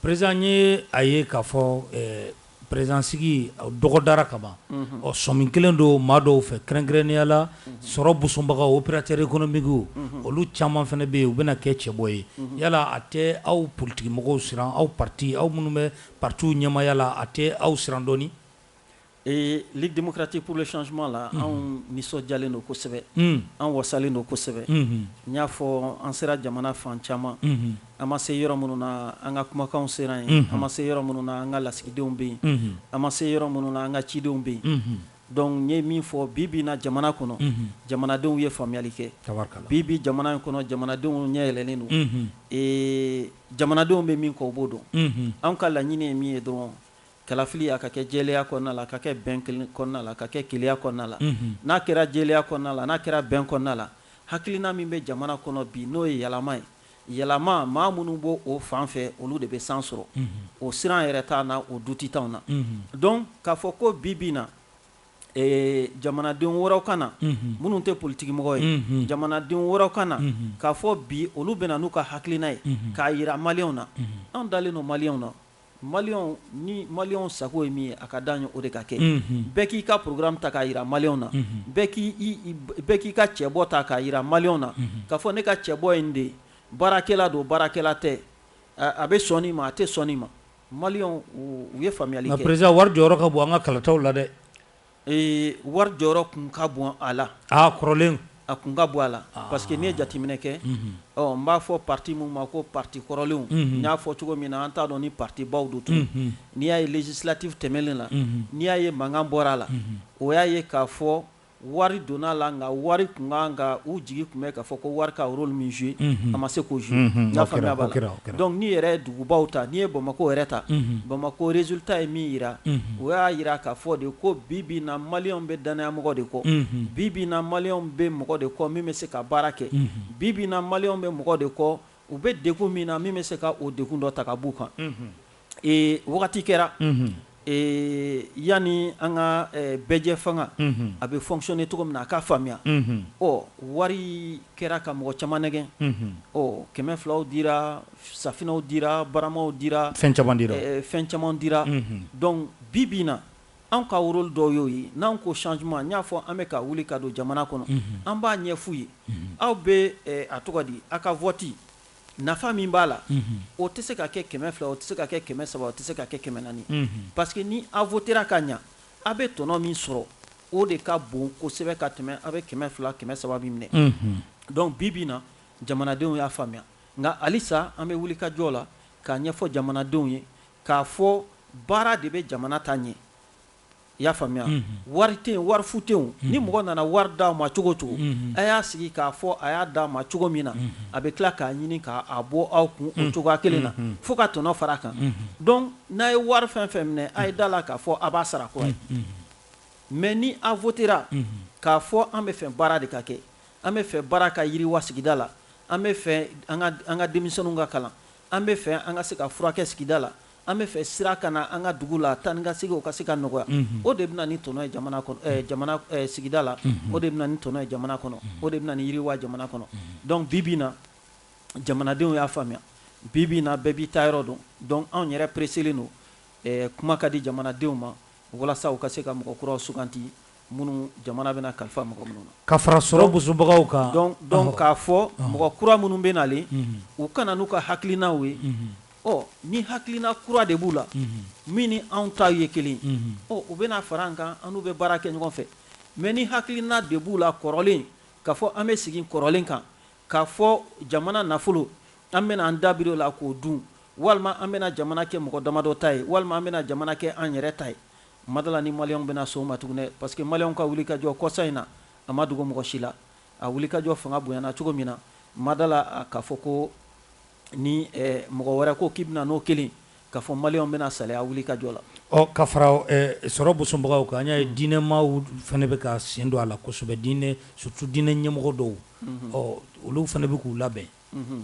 Président ye a ye k'a fɔ président sigi dɔgɔ dara kaban ɔ sɔmi kɛlen don maa dɔw fɛ kɛrɛnkɛrɛnnenya la sɔrɔ busumbagaw opérateur économique olu caman fana bɛ yen u bɛna kɛ cɛbɔ ye yala a tɛ aw politikimɔgɔw siran aw parti aw minnu bɛ partiw ɲɛmaaya la a tɛ aw siran dɔɔni Ee Ligue démocratique pour le changement la anw nisɔndiyalen don kosɛbɛ an wasalen don kosɛbɛ n y'a fɔ an sera jamana fan caman an ma se yɔrɔ minnu na an ka kumakanw sera yen an ma se yɔrɔ minnu na an ka lasigidenw bɛ yen an ma se yɔrɔ minnu na an ka cidenw bɛ yen donc n ye min fɔ bi bi in na jamana kɔnɔ jamanadenw ye faamuyali kɛ bi bi jamana in kɔnɔ jamanadenw ɲɛ yɛlɛlen don ee jamanadenw bɛ min kɔ u b'o dɔn an ka laɲini ye min ye dɔrɔn Kalafili a ka kɛ jɛlenya kɔnɔna la, a ka kɛ bɛn kɔnɔna la, a ka kɛ keleya kɔnɔna la, n'a kɛra jɛlenya kɔnɔna la, n'a kɛra bɛn kɔnɔna la, hakilina min bɛ jamana kɔnɔ bi n'o ye yɛlɛma ye, yɛlɛma maa minnu b'o o fan fɛ olu de bɛ san sɔrɔ, o siran yɛrɛ t'an na, o doute t'anw na, donc k'a fɔ ko bi bi in na jamanaden wɛrɛw ka na minnu tɛ politikimɔgɔ ye, jamanaden wɛrɛw ka na k'a fɔ bi olu bɛna n'u ka hakilina ye k'a yira maliyɛnw na, anw dalen don maliyɛnw na. Maliyɛnw ni maliyɛnw sago ye min ye a ka d'an ye o de ka kɛ bɛɛ k'i ka programme ta k'a yira maliyɛnw na bɛɛ k'i ka cɛbɔ ta k'a yira maliyɛnw na k'a fɔ ne ka cɛbɔ ye nin de baarakɛla don baarakɛla tɛ a bɛ sɔn nin ma a tɛ sɔn nin ma maliyɛnw ye faamuyali kɛ président wari jɔyɔrɔ ka bon an ka kalataw la dɛ Ee wari jɔyɔrɔ tun ka bon a la kɔrɔlen a tun ka bon a la parce que n'i ye jateminɛ kɛ n b'a fɔ parti minnu ma ko parti kɔrɔlenw n y'a fɔ cogo min na an t'a dɔn ni partibaw don tun n'i y'a ye législative tɛmɛnen na n'i y'a ye mankan bɔra a la o y'a ye k'a fɔ wari donna a la nka wari tun ka kan u jigi tun bɛ k'a fɔ ko wari ka rôle min jouer a ma se k'o jouer n y'a faamuya b'a la donc n'i yɛrɛ dugubaw ta n'i ye bamakɔ yɛrɛ ta bamakɔ résultat ye min yira o y'a yira k'a fɔ de ko bi bi na maliyɛnw bɛ dannayamɔgɔ de kɔ bi bi na maliyɛnw bɛ mɔgɔ de kɔ min bɛ se ka baara kɛ bi bi na maliyɛnw bɛ mɔgɔ de kɔ u bɛ degun min na min bɛ se ka o degun dɔ ta ka b'u kan wagati kɛra Yanni an ka bɛɛjɛ fanga a bɛ fonctionner cogo min na a k'a faamuya wari kɛra ka mɔgɔ caman nɛgɛn kɛmɛ filaw dira safinaw dira baramaw dira fɛn caman dira donc bi bi na an ka rôle dɔ y'o ye n'an ko changement n y'a fɔ an bɛ ka wuli ka don jamana kɔnɔ an b'a ɲɛf'u ye aw bɛ a tɔgɔ di aw ka vote nafa min b'a la o tɛ se ka kɛ kɛmɛ fila o tɛ se ka kɛ kɛmɛ saba o tɛ se ka kɛ kɛmɛ naani parce que ni a votera ka ɲɛ aw bɛ tɔnɔ min sɔrɔ o de ka bon kosɛbɛ ka tɛmɛ aw bɛ kɛmɛ fila kɛmɛ saba min minɛ donc bi bi na jamanadenw y'a faamuya nka halisa an bɛ wuli ka jɔ la k'a ɲɛfɔ jamanadenw ye k'a fɔ baara de bɛ jamana ta ɲɛ I y'a faamuya wari tɛ yen wari fu tɛ yen ni mɔgɔ nana wari d'aw ma cogo o cogo a y'a sigi k'a fɔ a y'a d'a ma cogo min na a bɛ tila k'a ɲini k'a bɔ aw kun o cogoya kelen na fo ka tɔnɔ fara a kan donc n'a ye wari fɛn fɛn minɛ a ye da la k'a fɔ a b'a sara kura ye mais ni a votera k'a fɔ an bɛ fɛ baara de ka kɛ an bɛ fɛ baara ka yiriwa sigida la an bɛ fɛ an ka denmisɛnninw ka kalan an bɛ fɛ an ka se ka furakɛ sigida la An bɛ fɛ sira ka na an ka dugu la taa ni ka segin o ka se ka nɔgɔya o de bɛ na ni tɔnɔ ye jamana sigida la o de bɛ na ni tɔnɔ ye jamana kɔnɔ o de bɛ na ni yiriwa jamana kɔnɔ donc bi bi na jamanadenw y'a faamuya bi bi na bɛɛ b'i ta yɔrɔ dɔn donc anw yɛrɛ pereselen don kuma ka di jamanadenw ma walasa u ka se ka mɔgɔ kuraw suganti minnu jamana bɛna kalifa mɔgɔ minnu na ka fara sɔrɔ bosobagaw kan donc k'a fɔ mɔgɔ kura minnu bɛ nalen u ka na n'u ka hakilinaw ye ɔ ni hakilina kura de b'u la min ni anw ta ye kelen ɔ u bɛna fara an kan an n'u bɛ baara kɛ ɲɔgɔn fɛ mais ni hakilina de b'u la kɔrɔlen k'a fɔ an bɛ sigi kɔrɔlen kan k'a fɔ jamana nafolo an bɛna an dabiri o la k'o dun walima an bɛna jamana kɛ mɔgɔ damadɔ ta ye walima an bɛna jamana kɛ an yɛrɛ ta ye Ma d'a la ni maliyɛnw bɛna sɔn o ma tugun dɛ, parce que maliyɛnw ka wulikajɔ kɔsa in na, a ma dogo mɔgɔ si la. A wulikajɔ fanga bonyana cogo min na, ma d'a la k'a fɔ ko ni mɔgɔ wɛrɛ ko k'i bɛna n'o kelen k'a fɔ maliyɛnw bɛna salaya a wulikajɔ la. Ɔ ka fara sɔrɔ bosobagaw kan, an y'a ye diinɛmaaw fana bɛ ka sen don a la kosɛbɛ, diinɛ surtout diinɛ ɲɛmɔgɔ dɔw, ɔ olu fana bɛ k'u labɛn,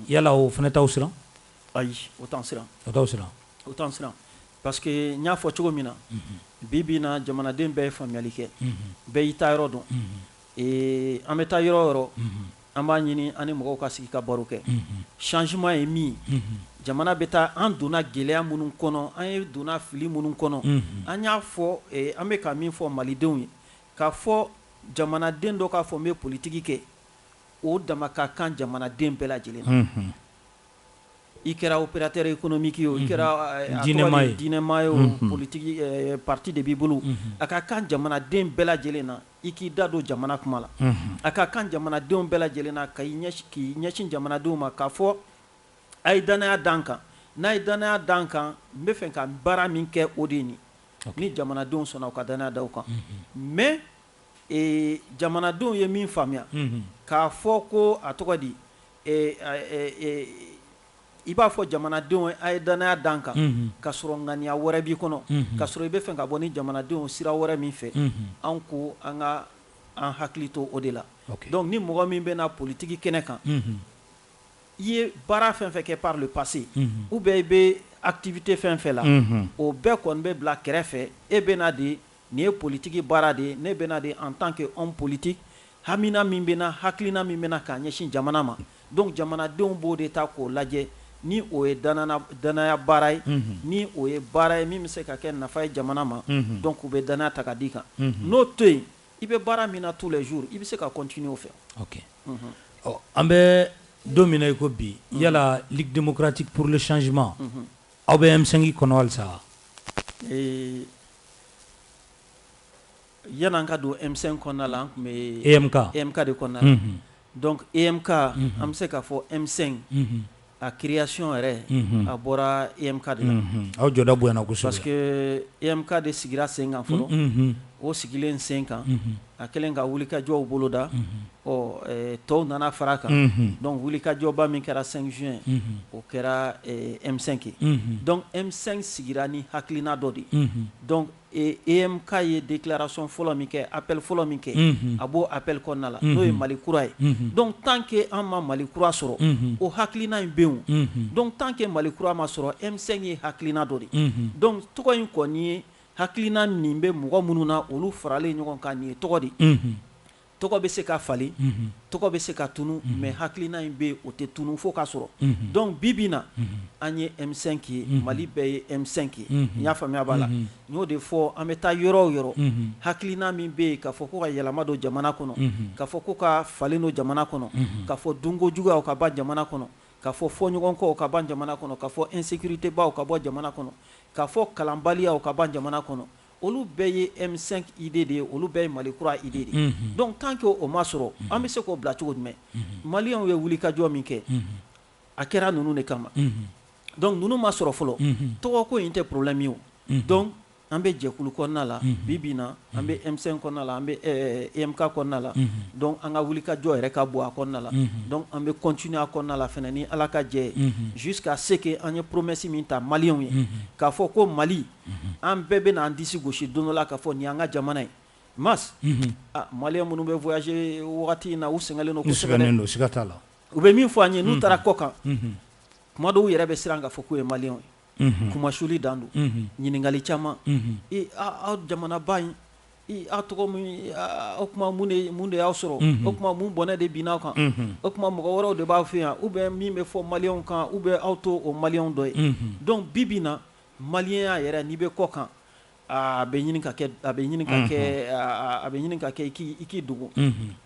yala o fana t'aw siran? Ayi, o t'an siran, o t'aw siran, o t'an siran. Parce que n y'a fɔ cogo min na bi bi na jamanaden bɛɛ ye faamuyali kɛ bɛɛ y'i ta yɔrɔ dɔn an bɛ taa yɔrɔ o yɔrɔ an b'a ɲini an ni mɔgɔw ka sigi ka baro kɛ changement ye min ye jamana bɛ taa an donna gɛlɛya minnu kɔnɔ an ye donna fili minnu kɔnɔ an y'a fɔ an bɛ ka min fɔ malidenw ye k'a fɔ jamanaden dɔ k'a fɔ n bɛ politigi kɛ o dama ka kan jamanaden bɛɛ lajɛlen i kɛra opérateur économique ye o, i kɛra diinɛmaa ye o, politique parti de b'i bolo, a ka kan jamanaden bɛɛ lajɛlen na, i k'i da don jamana kuma la, a ka kan jamanadenw bɛɛ lajɛlen na, k'i ɲɛsin jamanadenw ma, k'a fɔ a ye dannaya da n kan, n'a ye dannaya da n kan, n bɛ fɛ ka baara min kɛ, o de ye nin ye, ni jamanadenw sɔnna u ka dannaya da u kan, mais jamanadenw ye min faamuya, k'a fɔ ko a tɔgɔ di I b'a fɔ jamanadenw a ye dannaya da n kan ka sɔrɔ ŋaniya wɛrɛ b'i kɔnɔ ka sɔrɔ i bɛ fɛ ka bɔ ni jamanadenw sira wɛrɛ min fɛ an ko an ka an hakili to o de la donc ni mɔgɔ min bɛ na politigi kɛnɛ kan i ye baara fɛn fɛn kɛ par le passé ou bien i bɛ activité fɛn fɛn la o bɛɛ kɔni bɛ bila kɛrɛfɛ e bɛ na de Nin ye politiki baara de ye, ne bɛ na de en tant que homme politique hamina min bɛ n na, hakilina min bɛ n na k'a ɲɛsin jamana ma, donc jamanadenw b'o de ta k'o lajɛ ni o ye danaya baara ye, unhun, ni o ye baara ye min bɛ se ka kɛ nafa ye jamana ma, unhun, donc u bɛ danaya ta ka d'i kan, unhun, n'o to yen i bɛ baara min na tous les jours i bɛ se ka continuer o fɛ, ok, unhun, ɔ an bɛ don min na i ko bi yala Ligue démocratique pour le changement aw bɛ M5 kɔnɔ halisa wa? Ee Yann'an ka don M5 kɔnɔna la an tun bɛ EMK de kɔnɔna la donc EMK an bɛ se k'a fɔ M5 a création yɛrɛ a bɔra EMK de la aw jɔda bonyana kosɛbɛ parce que EMK de sigira sen kan fɔlɔ o sigilen sen kan a kɛlen ka wulikajɔw boloda tɔw nana fara kan donc wulikajɔba min kɛra 5 juin o kɛra M5 ye donc M5 sigira ni hakilina dɔ de ye donc EMK ye déclaration fɔlɔ min kɛ appel fɔlɔ min kɛ a b'o appel kɔnɔna la n'o ye mali kura ye donc tant que an ma mali kura sɔrɔ o hakilina in bɛ yen donc tant que mali kura ma sɔrɔ M5 ye hakilina dɔ de ye donc tɔgɔ in kɔni ye Hakilina nin bɛ mɔgɔ minnu na olu faralen ɲɔgɔn kan nin ye tɔgɔ de ye tɔgɔ bɛ se ka falen tɔgɔ bɛ se ka tunun mais hakilina in bɛ yen o tɛ tunun fo k'a sɔrɔ donc bi bi na an ye M5 ye mali bɛɛ ye M5 ye n y'a faamuya b'a la n y'o de fɔ an bɛ taa yɔrɔ o yɔrɔ hakilina min bɛ yen k'a fɔ ko ka yɛlɛma don jamana kɔnɔ k'a fɔ ko ka falen don jamana kɔnɔ k'a fɔ dunko juguya o ka ban jamana kɔnɔ ka fɔ fɔɲɔgɔnkɔw ka ban jamana kɔnɔ, ka fɔ insecurite baw ka bɔ jamana kɔnɔ, ka fɔ kalanbaliyaw ka ban jamana kɔnɔ, olu bɛɛ ye M5 idee de ye, olu bɛɛ ye Mali kura idee de ye. Donc tant que o ma sɔrɔ, an bɛ se k'o bila cogo jumɛn? Maliyɛnw ye wulikajɔ min kɛ, a kɛra ninnu de kama. Donc ninnu ma sɔrɔ fɔlɔ, tɔgɔko in tɛ problème ye o. Donc An bɛ jɛkulu kɔnɔna la bi bi na an bɛ M5 kɔnɔna la an bɛ EMK kɔnɔna la donc an ka wulikajɔ yɛrɛ ka bɔ a kɔnɔna la donc an bɛ continuer a kɔnɔna la fana ni ala ka jɛ jusqu'à ce que an ye promesse min ta maliyɛnw ye k'a fɔ ko mali an bɛɛ bɛna an disi gosi don dɔ la k'a fɔ nin y'an ka jamana ye mais maliyɛn minnu bɛ voyager wagati in na u sɛgɛnlen don sɛgɛnnen don siga t'a la u bɛ min fɔ an ye n'u taara kɔ kan kuma dɔw yɛrɛ bɛ siran k'a fɔ k'u ye maliyɛnw ye kumasuli dan don ɲininkakali caman aw jamanaba in aw tɔgɔ min o kuma mun de y'aw sɔrɔ o kuma mun bɔnɛ de binna aw kan o kuma mɔgɔ wɛrɛw de b'aw fɛ yan ou bien min bɛ fɔ maliyɛnw kan ou bien aw t'o maliyɛnw dɔ ye donc bi bi na maliyɛnya yɛrɛ n'i bɛ kɔ kan a bɛ a bɛ a bɛ ɲini ka kɛ i k'i dogo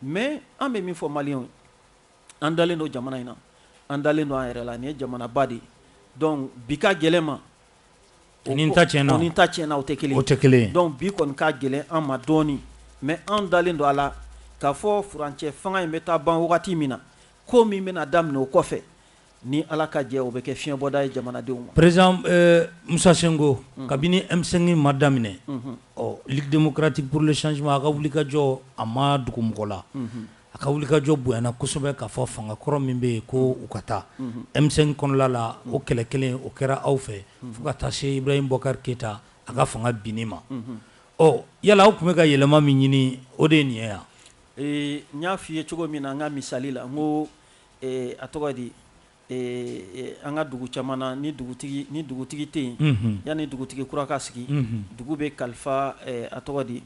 mais an bɛ min fɔ maliyɛnw ye An dalen don jamana in na an dalen don an yɛrɛ la nin ye jamanaba de ye donc bi ka gɛlɛn ma o ni ta tiɲɛna o tɛ kelen donc bi kɔni ka gɛlɛn an ma dɔɔnin mais an dalen don a la k'a fɔ furancɛ fanga in bɛ taa ban wagati min na ko min bɛna daminɛ o kɔfɛ Ni Ala ka jɛ ye, o bɛ kɛ fiɲɛbɔda ye jamanadenw ma. President Musa Sinko, kabini M5 in ma daminɛ, ɔ Ligue democratique pour le changement a ka wulikajɔ a ma dogo mɔgɔ la, a ka wulikajɔ bonyana kosɛbɛ ka fɔ fanga kɔrɔ min bɛ yen ko u ka taa M5 kɔnɔla la, o kɛlɛ kelen o kɛra aw fɛ fo ka taa se Ibrahim Boubacar Keita a ka fanga binni ma, ɔ yala aw tun bɛ ka yɛlɛma min ɲini o de ye nin ye wa? Ee n y'a fɔ i ye cogo min na n ka misali la, n ko A tɔgɔ di an ka dugu caman na ni ni dugutigi tɛ yen yanni dugutigi kura ka sigi dugu bɛ kalifa a tɔgɔ di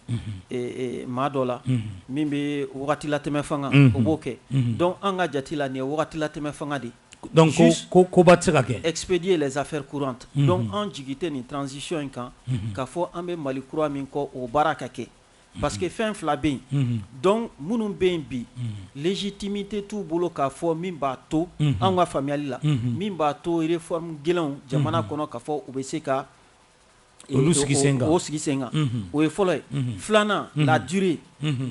maa dɔ la min bɛ wagatilatɛmɛ fanga o b'o kɛ donc an ka jate la nin ye wagatilatɛmɛ fanga de donc koba tɛ se ka kɛ expédier les affaires courantes donc an jigi tɛ nin transition in kan k'a fɔ an bɛ mali kura min kɔ o baara ka kɛ parce que fɛn fila bɛ yen donc minnu bɛ yen bi légitimité t'u bolo k'a fɔ min b'a to an ka faamuyali la min b'a to réforme gɛlɛnw jamana kɔnɔ ka fɔ u bɛ se ka olu sigi sen o sigi sen kan o ye fɔlɔ ye filanan la durée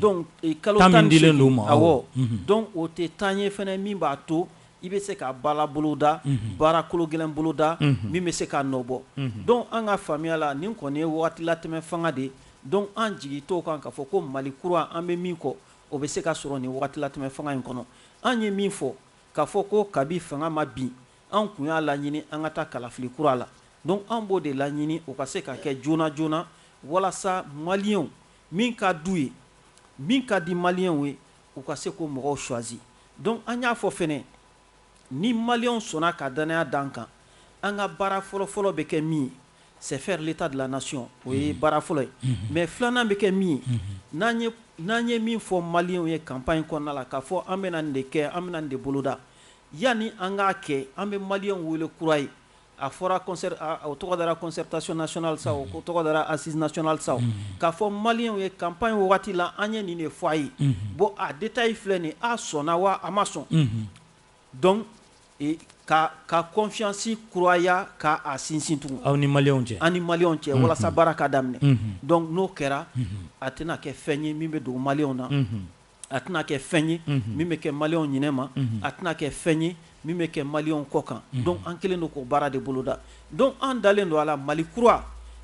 donc kalo tan di u ma awɔ donc o tɛ temps ye fana min b'a to i bɛ se ka baara boloda baara kolo gɛlɛn boloda min bɛ se ka nɔ bɔ donc an ka faamuya la nin kɔni ye waatilatɛmɛ fanga de ye Donc an jigi t'o kan k'a fɔ ko Mali kura an bɛ min kɔ, o bɛ se ka sɔrɔ nin wagatilatɛmɛ fanga in kɔnɔ. An ye min fɔ, k'a fɔ ko kabi fanga ma bin, anw tun y'a laɲini an ka taa kalafili kura la. Donc anw b'o de laɲini o ka se ka kɛ joona joona walasa Malienw min ka d'u ye, min ka di Malienw ye, u ka se k'o mɔgɔw choisi. Donc an y'a fɔ fɛnɛ, Ni maliyɛnw sɔnna ka danaya da an kan, an ka baara fɔlɔ-fɔlɔ bɛ kɛ min ye, c'est faire l'Etat de la nation o ye baara fɔlɔ ye, mais filanan bɛ kɛ min ye, n'an ye n'an ye min fɔ maliyɛnw ye campagne kɔnɔna la, k'a fɔ an bɛna nin de kɛ, an bɛna nin de boloda, yanni an k'a kɛ, an bɛ maliyɛnw wele kura ye, A fɔra o tɔgɔ dara concertation nationale sa o tɔgɔ dara assise nationale sa k'a fɔ maliyɛnw ye campagne wagati la an ye nin de fɔ a ye bon a détail filɛ nin a sɔnna wa a ma sɔn donc ka confiance kuraya ka a sinsin tugun aw ni maliyɛnw cɛ an ni maliyɛnw cɛ walasa baara ka daminɛ donc n'o kɛra a tɛna kɛ fɛn ye min bɛ dogo maliyɛnw na a tɛna kɛ fɛn ye min bɛ kɛ maliyɛnw ɲinɛ ma a tɛna kɛ fɛn ye min bɛ kɛ maliyɛnw kɔ kan donc an kɛlen don k'o baara de boloda donc an dalen don a la mali kura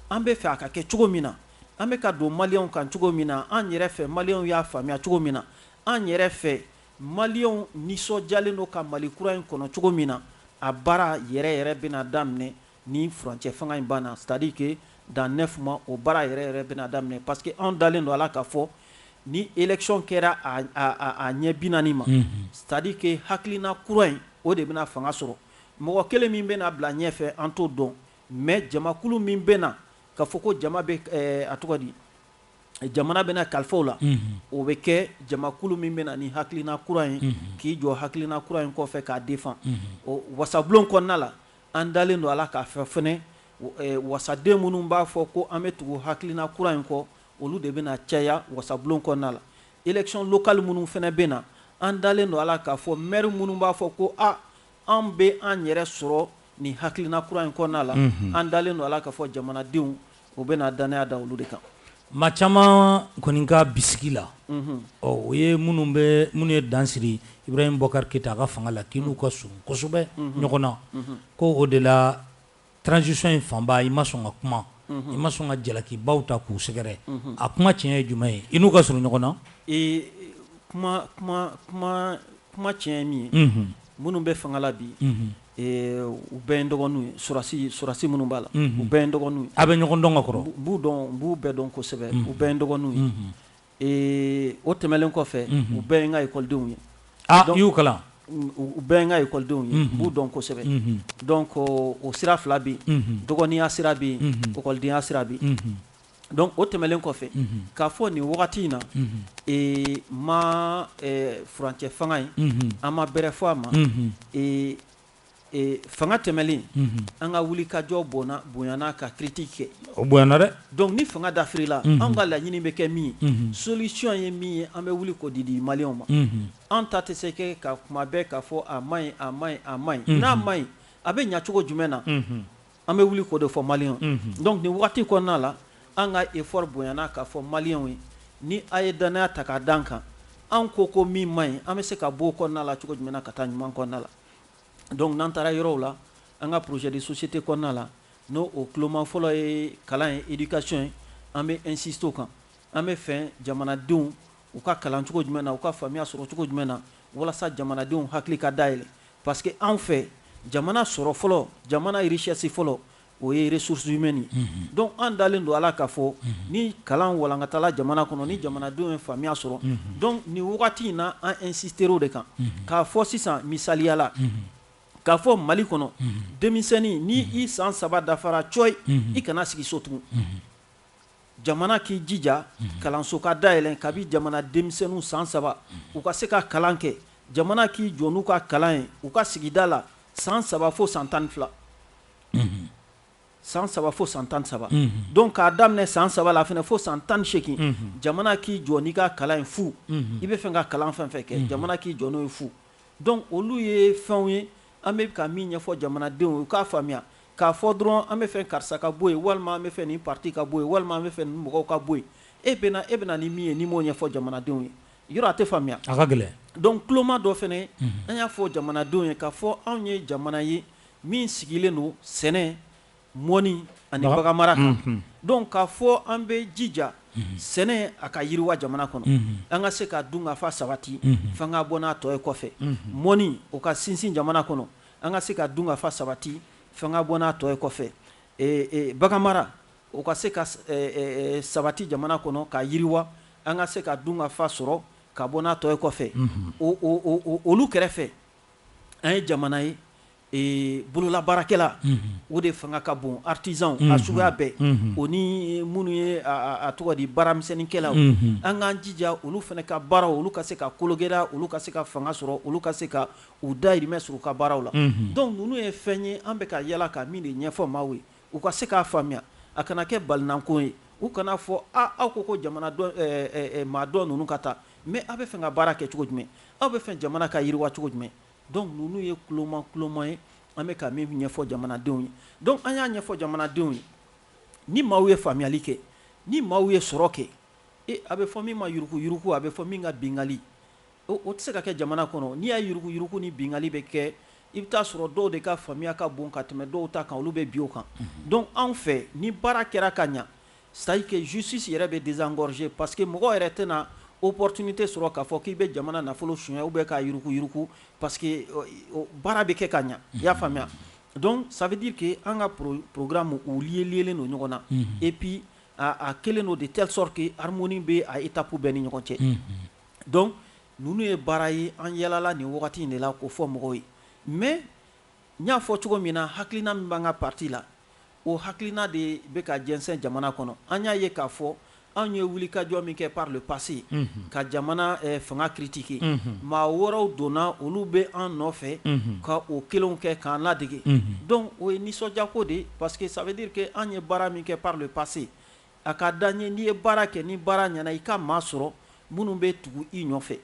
an bɛ fɛ a ka kɛ cogo min na an bɛ ka don maliyɛnw kan cogo min na an yɛrɛ fɛ maliyɛnw y'a faamuya cogo min na an yɛrɛ fɛ maliyɛnw nisɔndiyalen don ka mali kura in kɔnɔ cogo min na a baara yɛrɛ yɛrɛ bɛna daminɛ Ni furancɛ fanga in banna c'est à dire que dans 9 mois o baara yɛrɛ yɛrɛ bɛna daminɛ parce que anw dalen don a la k'a fɔ ni election kɛra a ɲɛ 40 ma c'est à dire que hakilina kura in o de bɛna fanga sɔrɔ mɔgɔ kelen min bɛna bila ɲɛfɛ an t'o dɔn mais jamakulu min bɛna ka fɔ ko jama bɛ a tɔgɔ di jamana bɛna kalifa u la o bɛ kɛ jamakulu min bɛna ni hakilina kura ye k'i jɔ hakilina kura in kɔfɛ k'a défend ɔ wasabulon kɔnɔna la An dalen don a la k'a fɔ fɛnɛ, wasaden minnu b'a fɔ ko an bɛ tugu hakilina kura in kɔ, olu de bɛna caya wasabulon kɔnɔna la. Election locale minnu fɛnɛ bɛ na, an dalen don a la k'a fɔ maire minnu b'a fɔ ko a anw bɛ an yɛrɛ sɔrɔ nin hakilina kura in kɔnɔna la, an dalen don a la k'a fɔ jamanadenw U bɛna danaya da olu de kan maa caman kɔni ka bisigi la ɔ o ye minnu bɛ minnu ye dansiri Ibrahim Boubacar Keita a ka fanga la k'i n'u ka surun kosɛbɛ ɲɔgɔn na ko o de la transition in fanba i ma sɔn ka kuma i ma sɔn ka jalakibaw ta k'u sɛgɛrɛ a kuma tiɲɛ ye jumɛn ye i n'u ka surun ɲɔgɔn na kuma tiɲɛ ye min ye minnu bɛ fanga la bi u bɛɛ n dɔgɔninw ye sɔrɔdasi sɔrɔdasi minnu b'a la u bɛɛ dɔgɔninw ye an bɛ ɲɔgɔn dɔn ka kɔrɔ n b'u dɔn n b'u bɛɛ dɔn kosɛbɛ u bɛɛ dɔgɔninw ye ee o tɛmɛnen kɔfɛ u bɛɛ n ka ekɔlidenw ye n y'u kalan u bɛɛ n ka ekɔlidenw ye n b'u dɔn kosɛbɛ donc o sira fila bɛ yen dɔgɔninya sira bɛ yen ekɔlidenya sira bɛ yen donc o tɛmɛnlen kɔfɛ k'a fɔ nin wagati in na ma furancɛ fanga in an ma bɛrɛ fɔ a ma fanga tɛmɛnen an ka wuli ka jɔ bon bonyana ka critique kɛ o bonyana dɛ donc ni fanga dafirila an ka laɲini bɛ kɛ min ye solution ye min ye an bɛ wuli k'o de di malien ma an ta tɛ se kɛ ka kuma bɛɛ k'a fɔ a man ɲi a man ɲi a man ɲi n'a man ɲi a bɛ ɲɛ cogo jumɛn na An bɛ wuli k'o de fɔ malien ye, unhun, donc nin wagati kɔnɔna la an ka effort bonyana k'a fɔ malienw ye ni a ye dannaya ta k'a d'an kan an ko ko min man ɲi an bɛ se ka b'o kɔnɔna la cogo jumɛn na ka taa ɲuman kɔnɔna la donc n'an taara yɔrɔw la an ka projet de société kɔnɔna la n'o o tuloma fɔlɔ ye kalan ye éducation ye an bɛ insister o kan an bɛ fɛ jamanadenw u ka kalan cogo jumɛn na u ka faamuya sɔrɔ cogo jumɛn na walasa jamanadenw hakili ka dayɛlɛ Parce que anw fɛ jamana sɔrɔ fɔlɔ jamana richesse fɔlɔ o ye ressources humaines ye, unhun, donc an dalen don a la k'a fɔ ni kalan walankatala jamana kɔnɔ ni jamanadenw ye faamuya sɔrɔ, unhun, donc nin wagati in na an insister o de kan, unhun, k'a fɔ sisan misaliya la, unhun, k'a fɔ Mali kɔnɔ, unhun, denmisɛnnin ni i san saba dafara cɔyi, unhun, i kana sigi so tugun, unhun. jamana k'i jija kalanso ka dayɛlɛ kabi jamana denmisɛnninw san saba u ka se ka kalan kɛ jamana k'i jɔ n'u ka kalan ye u ka sigida la san saba fo san tan ni fila san saba fo san tan ni saba donc k'a daminɛ san saba la fɛnɛ fo san tan ni segin jamana k'i jɔ n'i ka kalan ye fu i bɛ fɛ ka kalan fɛn fɛn kɛ jamana k'i jɔ n'o ye fu donc olu ye fɛnw ye An bɛ ka min ɲɛfɔ jamanadenw ye u k'a faamuya k'a fɔ dɔrɔn an bɛ fɛ karisa ka bɔ yen walima an bɛ fɛ nin parti ka bɔ yen walima an bɛ fɛ nin mɔgɔw ka bɔ yen e bɛna e bɛna ni min ye n'i m'o ɲɛfɔ jamanadenw ye yɔrɔ a tɛ faamuya a ka gɛlɛn donc tuloma dɔ fɛnɛ an y'a fɔ jamanadenw ye k'a fɔ anw ye jamana ye min sigilen don sɛnɛ mɔni ani baganmara kan, unhun, donc k'a fɔ an bɛ jija sɛnɛ a ka yiriwa jamana kɔnɔ, unhun, an ka se ka dunkafa sabati, unhun, f'an ka bɔ n'a tɔ ye kɔfɛ, unhun, mɔni o ka sinsin jamana kɔnɔ, an ka se ka dunkafa sabati f'an ka bɔ n'a tɔ ye kɔfɛ, ee ee baganmara o ka se ka sabati jamana kɔnɔ ka yiriwa, an ka se ka dunkafa sɔrɔ ka bɔ n'a tɔ ye kɔfɛ, unhun, o o o olu kɛrɛfɛ an ye jamana ye Bololabaarakɛla o de fanga ka bon artisan a suguya bɛɛ o ni minnu ye a tɔgɔ di baaramisɛnninkɛlaw an k'an jija olu fana ka baaraw olu ka se ka kologɛlɛya olu ka se ka fanga sɔrɔ olu ka se ka u dahirimɛ sɔrɔ u ka baaraw la donc ninnu ye fɛn ye an bɛ ka yala ka min de ɲɛfɔ maaw ye u ka se k'a faamuya a kana kɛ balinanko ye u kana fɔ aw ko ko jamana maa dɔ ninnu ka taa mais aw bɛ fɛ ka baara kɛ cogo jumɛn aw bɛ fɛ jamana ka yiriwa cogo jumɛn Donc ninnu ye tuloma tuloma ye an bɛ ka min ɲɛfɔ jamanadenw ye donc an y'a ɲɛfɔ jamanadenw ye ni maaw ye faamuyali kɛ ni maaw ye sɔrɔ kɛ e a bɛ fɔ min ma yuruguyurugu a bɛ fɔ min ka bingali o tɛ se ka kɛ jamana kɔnɔ n'i y' yuruguyurugu ni bingali bɛ kɛ i bɛ t'a sɔrɔ dɔw de ka faamuyaya ka bon ka tɛmɛ dɔw ta kan olu bɛ bin o kan donc anw fɛ ni baara kɛra ka ɲɛ C'est à dire que justice yɛrɛ bɛ désengorger parce que mɔgɔ yɛrɛ tɛna opportunité sɔrɔ k'a fɔ k'i bɛ jamana nafolo suɲɛ ou bien k'a yurukuyuruku parce que baara bɛ kɛ ka ɲɛ i y'a faamuya donc ça veut dire que an ka programme u liéliélen don ɲɔgɔn na et puis a kɛlen don de telle sorte que harmonie bɛ a étapes bɛɛ ni ɲɔgɔn cɛ donc ninnu ye baara ye an yalala nin wagati in de la k'o fɔ mɔgɔw ye mais N y'a fɔ cogo min na, hakilina min b'an ka parti la, o hakilina de bɛ ka jɛnsɛn jamana kɔnɔ. An y'a ye k'a fɔ, anw ye wulikajɔ min kɛ par le passé ka jamana fanga critiquer, maa wɛrɛw donna, olu bɛ an nɔfɛ ka o kelenw kɛ k'an ladege. Donc o ye nisɔndiyako de ye parce que ça veut dire que an ye baara min kɛ par le passé, a ka d'an ye n'i ye baara kɛ, ni baara ɲɛna, i ka maa sɔrɔ minnu bɛ tugu i nɔfɛ.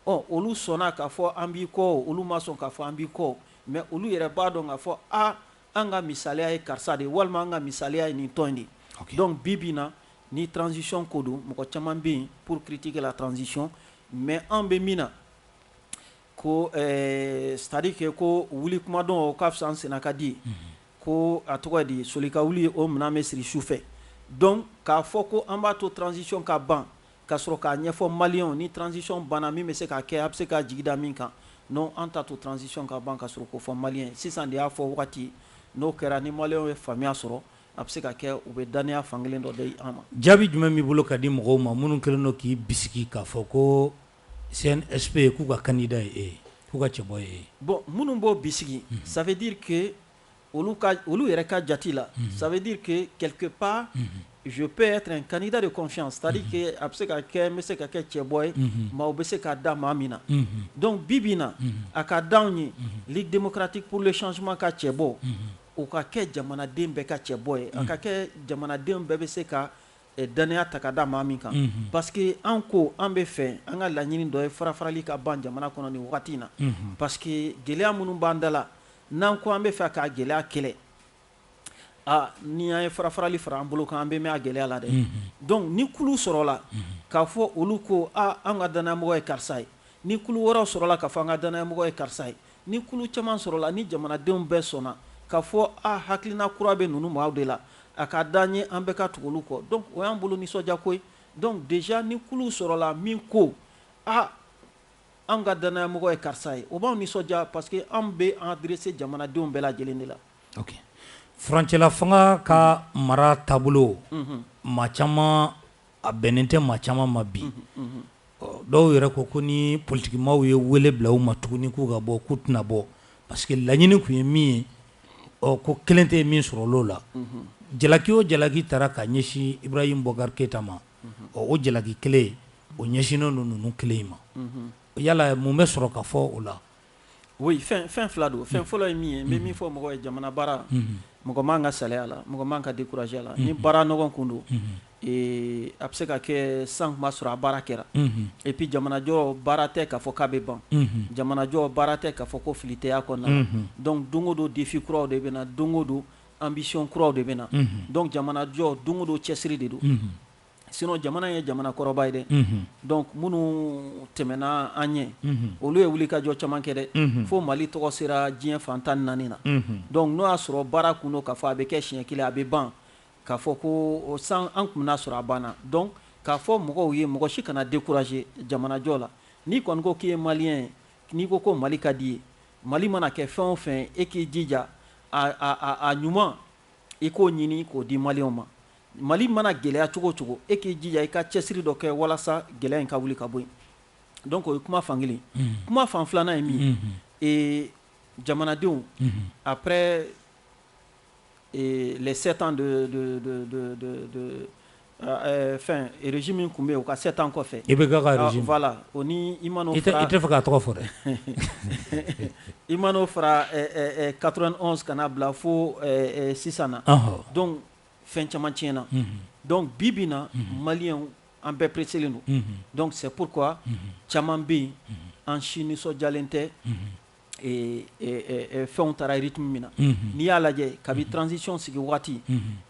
Ɔ olu sɔnna k'a fɔ an b'i kɔ o, olu ma sɔn k'a fɔ an b'i kɔ o, mais olu yɛrɛ b'a dɔn k'a fɔ a an ka misaliya ye karisa de ye walima an ka misaliya ye nin tɔn in de ye. Ok. Donc bi bi in na ni transition ko don, mɔgɔ caman bɛ yen pour critiquer la transition mais anw bɛ min na ko ɛɛ c'est à dire que ko wuli kuma dɔn o ka fisa an senna ka di ye, ko a tɔgɔ ye di soli ka wuli o minɛn bɛ siri sufɛ donc k'a fɔ ko an b'a to transition ka ban ka sɔrɔ k'a ɲɛfɔ maliyɛnw ni transition banna min bɛ se ka kɛ a bɛ se k'a jigi da min kan non an t'a to transition ka ban ka sɔrɔ k'o fɔ maliyɛn ye sisan de y'a fɔ wagati ye n'o kɛra ni maliyɛnw ye faamuya sɔrɔ a bɛ se ka kɛ u bɛ dannaya fankelen dɔ di an ma. Jaabi jumɛn b'i bolo ka di mɔgɔw ma minnu kɛlen don k'i bisigi k'a fɔ ko CNSP k'u ka candidat ye e ye k'u ka cɛbɔ ye e ye? Bon minnu b'o bisigi ça veut dire que olu ka olu yɛrɛ ka jate la ça veut dire que quelque part je peux être un candidat de confiance c'est à dire que a bɛ se ka kɛ n bɛ se ka kɛ cɛbɔ ye maaw bɛ se ka da maa min na donc bi bi in na a ka d'anw ye Ligue démocratique pour le changement ka cɛbɔ o ka kɛ jamanaden bɛɛ ka cɛbɔ ye a ka kɛ jamanadenw bɛɛ bɛ se ka Dannaya ta ka da maa min kan parce que an ko an bɛ fɛ an ka laɲini dɔ ye farafarali ka ban jamana kɔnɔ nin wagati in na parce que gɛlɛya minnu b'an da la n'an ko an bɛ fɛ ka gɛlɛya kɛlɛ aa ni an ye farafarali fara an bolo kan an bɛ mɛɛn a gɛlɛya la dɛ donc ni kulu sɔrɔla k'a fɔ olu ko an ka dannayamɔgɔ ye karisa ye ni kulu wɛrɛw sɔrɔla k'a fɔ an ka dannayamɔgɔ ye karisa ye Ni kulu caman sɔrɔla, ni jamanadenw bɛɛ sɔnna k'a fɔ a hakilina kura bɛ ninnu maaw de la, a ka d'an ye an bɛɛ ka tugu olu kɔ. Donc o y'an bolo nisɔndiya ko ye. Donc dejà ni kuluw sɔrɔla min ko a anw ka danayamɔgɔ ye karisa ye, o b'anw nisɔndiya parce que anw bɛ an adresser jamanadenw bɛɛ lajɛlen de la. Ok. Furancɛlafanga ka mara taabolo, maa caman a bɛnnen tɛ maa caman ma bi dɔw yɛrɛ ko ko ni politikimaaw ye wele bila u ma tuguni k'u ka bɔ k'u tɛna bɔ parce que laɲini tun ye min ye ɔ ko kelen tɛ ye min sɔrɔ o la jalaki o jalaki taara ka ɲɛsin Ibrahim Boubacar Keïta ma ɔ o jalaki kelen o ɲɛsinnen don ninnu kelen in ma yala mun bɛ sɔrɔ k'a fɔ o la oui fɛn fɛn fila don fɛn fɔlɔ ye min ye n bɛ min fɔ mɔgɔ ye jamana baara mɔgɔ man ka salaya a la mɔgɔ man ka décourager a la ni baara nɔgɔn kun don a bɛ se ka kɛ san an kun b'a sɔrɔ a baara kɛra et puis jamanajɔ baara tɛ k'a fɔ k'a bɛ ban jamanajɔ baara tɛ k'a fɔ ko fili tɛ a kɔnɔna la donc don o don défi kuraw de bɛ na don o don ambition kuraw de bɛ na donc jamanajɔ don o don cɛsiri de don sinon jamana ye jamana kɔrɔba ye dɛ donc minnu tɛmɛna an ɲɛ olu ye wulikajɔ caman kɛ dɛ fo mali tɔgɔ sera diɲɛ fan tan ni naani na donc n'o y'a sɔrɔ baara kun don k'a fɔ a bɛ kɛ siɲɛ kelen a bɛ ban k'a fɔ ko san an kun n'a sɔrɔ a banna donc k'a fɔ mɔgɔw ye mɔgɔ si kana décourager jamanajɔ la n'i kɔni ko k'i ye maliyɛn ye n'i ko ko mali ka di i ye mali mana kɛ fɛn o fɛn e k'i jija a ɲuman i k'o ɲini k'o di maliyɛnw ma Mali mana gɛlɛya cogo o cogo e k'i jija i ka cɛsiri dɔ kɛ walasa gɛlɛya in ka wuli ka bɔ yen donc o ye kuma fan kelen ye kuma fan filanan ye min ye ee jamanadenw après les 7 ans de fɛn régime min tun bɛ yen o ka 7 ans kɔfɛ IBK ka régime voilà o ni i mana o fara i tɛ fɛ k'a tɔgɔ fɔ dɛ i mana o fara 91 ka na bila fo sisan na donc fɛn caman tiɲɛna donc bi bi in na maliyɛnw an bɛɛ presselen don donc c'est pourquoi caman bɛ yen an si nisɔnjalen tɛ fɛnw taara rythme min na n'i y'a lajɛ kabi transition sigi waati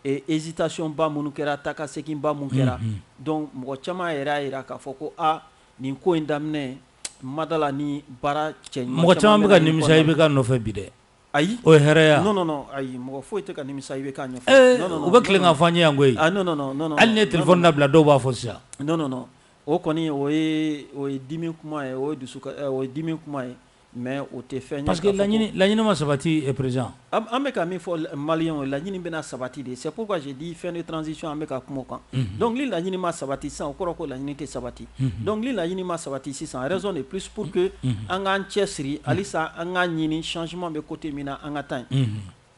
hésitationba minnu kɛra taakaseginba minnu kɛra donc mɔgɔ caman yɛrɛ y'a jira k'a fɔ ko aa nin ko in daminɛ madala ni baara cɛ mɔgɔ caman bɛ ka nimisa IBK nɔfɛ bi dɛ Ayi o ye erreur ye non non ayi mɔgɔ foyi tɛ ka nimisa IBK u bɛ tilen k'a fɔ an ye yan koyi hali n'i ye téléphone labila dɔw b'a fɔ sisan non o kɔni o o ye dimi kuma ye o ye dusu o ye dimi kuma ye mais o tɛ fɛn parce que laɲini laɲini ma sabati à présent an bɛ ka min fɔ maliyɛnw ye o laɲini bɛna sabati de c'est pourquoi j'ai dit fin de transition an bɛ ka kuma o kan donc ni laɲini ma sabati sisan o kɔrɔ ko laɲini tɛ sabati donc ni laɲini ma sabati sisan raison de plus pour que an k'an cɛ siri halisa an k'a ɲini changement bɛ côté min na an ka taa yen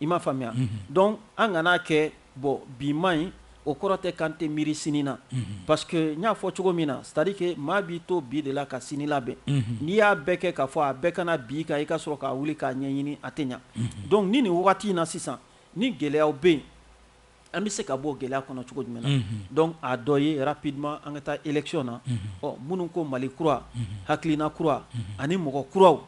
i m'a faamuya donc an kana n'a kɛ bon bi man ɲi o kɔrɔ tɛ k'an tɛ miiri sini na parce que n y'a fɔ cogo min na c'est-à-dire que maa b'i to bi de la ka sini labɛn n'i y'a bɛɛ kɛ k'a fɔ a bɛɛ kana bi kan i ka sɔrɔ ka wuli k'a ɲɛɲini a tɛ ɲa donc ni nin wagati in na sisan ni gɛlɛya bɛ yen An bɛ se ka bɔ gɛlɛya kɔnɔ cogo jumɛn na donc a dɔ ye rapidement an ka taa élection na ɔ minnu ko Mali kura hakilina kura ani mɔgɔ kuraw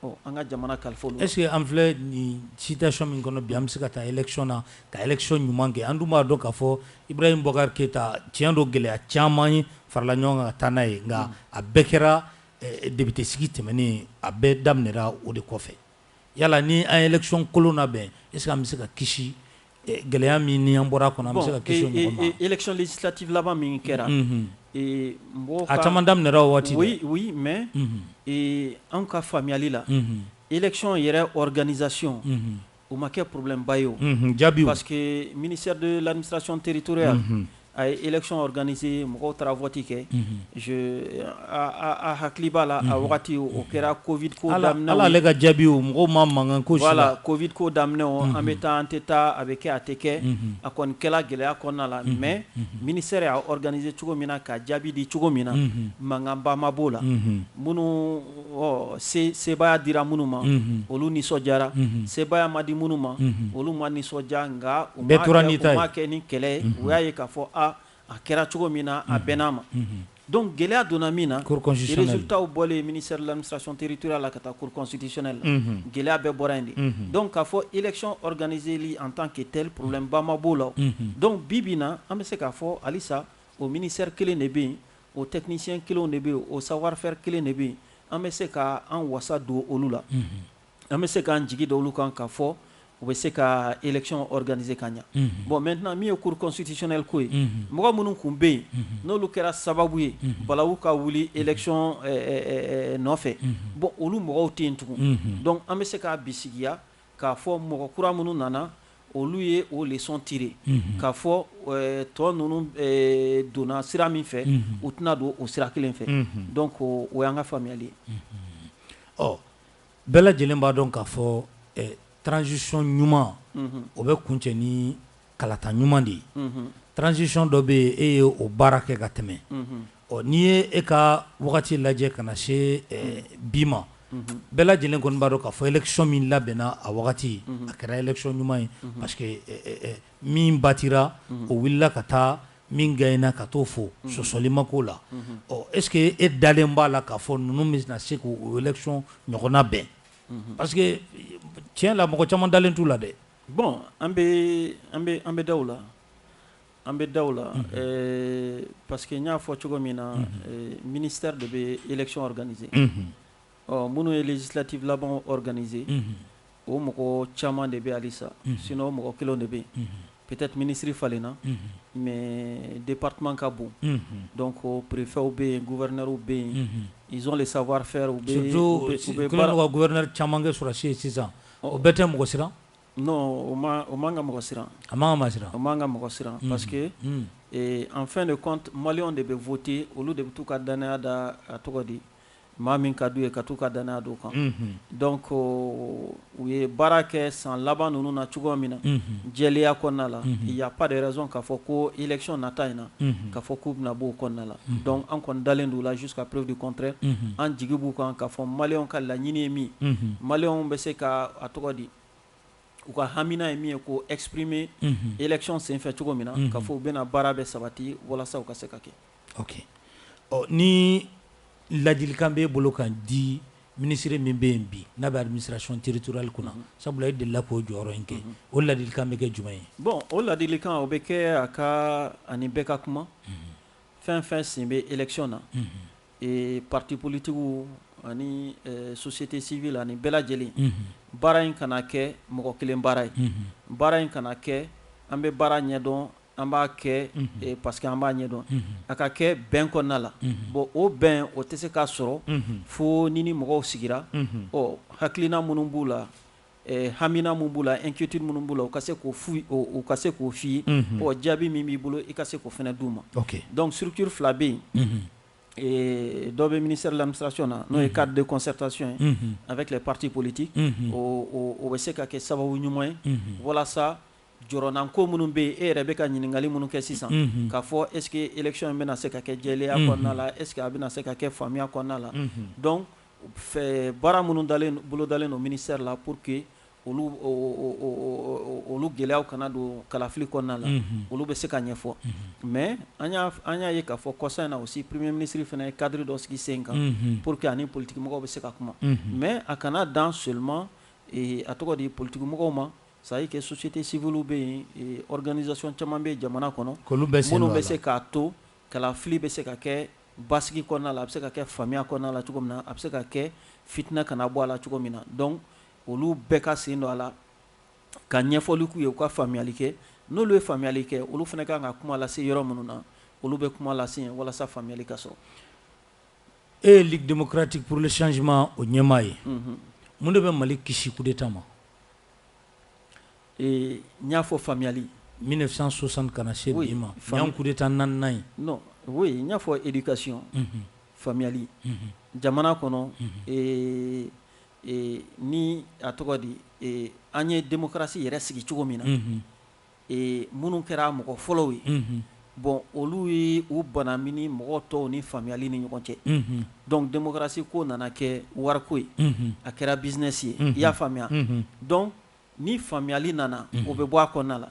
ɔ an ka jamana kalifa olu est-ce que an filɛ nin situation min kɔnɔ bi an bɛ se ka taa élection na ka élection ɲuman kɛ an dun b'a dɔn k'a fɔ Ibrahim Boubacar Keïta tiɲɛ don gɛlɛya caman ye farala ɲɔgɔn kan ka taa n'a ye nka a bɛɛ kɛra député sigi tɛmɛnen a bɛɛ daminɛra o de kɔfɛ Yala ni an ye élection kolon labɛn est ce que an bɛ se ka kisi gɛlɛya min ni an bɔra kɔnɔ an bɛ se ka kisi o ɲɔgɔn ma? Bon élection législative laban min kɛra, unhun, ee mɔgɔw ka, a caman daminɛra o waati, oui, oui, mais ee anw ka faamuyali la, unhun, élection yɛrɛ organisation o ma kɛ problème ba ye o, unhun, jaabiw, parce que ministère de l'administration territoriale A ye élection organisé mɔgɔw taara vote kɛ a hakili b'a la a wagati o kɛra covid ko daminɛ hali ale ka jaabi o mɔgɔw ma mankan k'o si la, voilà covid ko daminɛ o an bɛ taa an tɛ taa a bɛ kɛ a tɛ kɛ a kɔni kɛla gɛlɛya kɔnɔna la mais ministère y'a organisé cogo min na ka jaabi di cogo min na mankanba ma b'o la minnu ɔ sebaaya dira minnu ma olu nisɔndiyara sebaaya ma di minnu ma olu ma nisɔndiya nka u m'a kɛ ni kɛlɛ ye u y'a ye k'a fɔ a a kɛra cogo min na a bɛnn'a ma donc gɛlɛya donna min na résultatw bɔlen ministère de l'administration territoriale la ka taa cour constitutionnelle la gɛlɛya bɛɛ bɔra yen de donc k'a fɔ élection organiseli en tant que tel problème ba ma b'o la donc bi bi na an bɛ se k'a fɔ halisa o ministère kelen de bɛ yen O technicien kelenw de bɛ yen, o savoir faire kelen de bɛ yen, an bɛ se ka an wasa don olu la, unhun, an bɛ se k'an jigi da olu kan k'a fɔ u bɛ se ka élection organiser ka ɲa, unhun, bon maintenant min ye cour constitutionnelle ko ye, unhun, mɔgɔ minnu kun bɛ yen, unhun, n'olu kɛra sababu ye, unhun, balawu ka wuli élection nɔfɛ, unhun, bon olu mɔgɔw tɛ yen tugun, unhun, donc an bɛ se k'a bisigiya. K'a fɔ mɔgɔ kura minnu nana olu ye o leçon tiré unhun, k'a fɔ tɔ ninnu donna sira min fɛ, unhun, u tɛna don o sira kelen fɛ, unhun, donc o y'an ka faamuyali ye, unhun, ɔ bɛɛ lajɛlen b'a dɔn k'a fɔ transition ɲuman, unhun, o bɛ kuncɛ ni kalata ɲuman de ye transition dɔ bɛ yen e ye o baara kɛ ka tɛmɛ ɔ n'i ye e ka wagati lajɛ ka na se bi ma bɛɛ lajɛlen kɔni b'a dɔn k'a fɔ élection min labɛnna a wagati a kɛra élection ɲuman ye parce que min batira o wulila ka taa min gagnéna ka t'o fo sɔsɔli ma k'o la ɔ est ce que e dalen b'a la k'a fɔ ninnu bɛna se k'o élection ɲɔgɔn labɛn parce que tiɲɛ la mɔgɔ caman dalen t'u la dɛ bɔn an bɛ da la an bɛ da la pa que n y'a fɔ cogo min na minisari de bɛ yɛlɛcdananie ɔ minnu ye jisilati laban dananie o mɔgɔ caman de bɛ alisa sin o mɔgɔ kelen de bɛ yen ptet minisiriri falen na mɛ de pa ka bon dɔn ko perepfɛw bɛ yen guɛinw bɛ yen nson de sabawa fɛw bɛ gɛ caman kɛ sɔrɔsiw ye sisan O bɛɛ tɛ mɔgɔ siran non o man ka mɔgɔ siran a man ka siran o man ka mɔgɔ siran parce que en fin de compte maliyɛnw de bɛ voter olu de bɛ t'u ka dannaya da a tɔgɔ di maa min ka d'u ye ka taa u ka dannaya d'o kan donc u ye baara kɛ san laban ninnu na cogoya min na jɛlenya kɔnɔna la y a pas de raison k'a fɔ ko élection nata in na k'a fɔ k'u bɛna b'o kɔnɔna la donc an kɔni dalen d'u la jusqu'à preuve du contraire an jigi b'u kan k'a fɔ maliyɛnw ka laɲini ye min ye maliyɛnw bɛ se ka a tɔgɔ di u ka hamiina ye min ye k'o exprimer élection senfɛ cogo min na k'a fɔ u bɛna baara bɛ sabati walasa u ka se ka kɛ ok ni ladilikan b'e bolo k'a di minisiri min bɛ yen bi n'a bɛ administration territoriale kunna sabula e delila k'o jɔyɔrɔ in kɛ o ladilikan bɛ kɛ jumɛn ye bon o ladilikan o bɛ kɛ a ka ani bɛɛ ka kuma fɛn fɛn sen bɛ élection na ee parti politiquew ani société civile ani bɛɛ lajɛlen baara in kana kɛ mɔgɔ kelen baara ye baara in kana kɛ an bɛ baara ɲɛdɔn an b'a kɛ parce que an b'a ɲɛdɔn a ka kɛ bɛn kɔnɔna la bon o bɛn o tɛ se ka sɔrɔ fo ni ni mɔgɔw sigira ɔ hakilina minnu b'u la hamiina minnu b'u la inquiétude minnu b'u la u ka se k'o f'u ye, u ka se k'o f'i ye, unhun, ɔ jaabi min b'i bolo i ka se k'o fana d'u ma, ok, donc structure fila bɛ yen, unhun, ee dɔ bɛ ministère de l'administration na n'o ye cadre de concertation ye, unhun, avec les partis politiques unhun, o bɛ se ka kɛ sababu ɲuman ye, unhun, walasa jɔrɔnanko minnu bɛ yen e yɛrɛ bɛ ka ɲininkali minnu kɛ sisan, unhun, k'a fɔ est ce que élection in bɛna se ka kɛ jɛlenya kɔnɔna la, unhun, est ce que a bɛna se ka kɛ faamuya kɔnɔna la, unhun, donc fɛ baara minnu bolodalen don ministère la pour que olu gɛlɛyaw kana don kalafili kɔnɔna la olu bɛ se ka ɲɛfɔ mais an y'a ye k'a fɔ kɔsa in na aussi premier ministre fana ye cadre dɔ sigi sen kan pour que a ni politique mɔgɔw bɛ se ka kuma mais a kana dan seulement a tɔgɔ di politique mɔgɔw ma ça y est que société civile bɛ yen organisation caman bɛ jamana kɔnɔ minnu bɛ se k'a to Kalafili bɛ se ka kɛ basigi kɔnɔna la, a bɛ se ka kɛ faamuya kɔnɔna la cogo min na, a bɛ se ka kɛ fitina kana bɔ a la cogo min na donc olu bɛɛ ka sen don a la, ka ɲɛfɔli k'u ye, u ka faamuyali kɛ, n'olu ye faamuyali kɛ, olu fana ka kan ka kuma lase yɔrɔ minnu na, olu bɛ kuma lase yen walasa faamuyali ka sɔrɔ. E ye Ligue démocratique pour le changement o ɲɛmaa ye, mun de bɛ Mali kisi coup d'Etat ma? Ee n y'a fɔ faamuyali mille neuf cent soixante ka na se bi ma ɲan coup d'Etat naaninan ye oui n y'a fɔ éducation faamuyali jamana kɔnɔ ni a tɔgɔ di an ye démocratie yɛrɛ sigi cogo min na minnu kɛra mɔgɔ fɔlɔw ye bon olu ye u banamini mɔgɔ tɔw ni faamuyali ni ɲɔgɔn cɛ donc démocratie ko nana kɛ wariko ye a kɛra business ye i y'a faamuya donc Ni faamuyali nana o bɛ bɔ a kɔnɔna la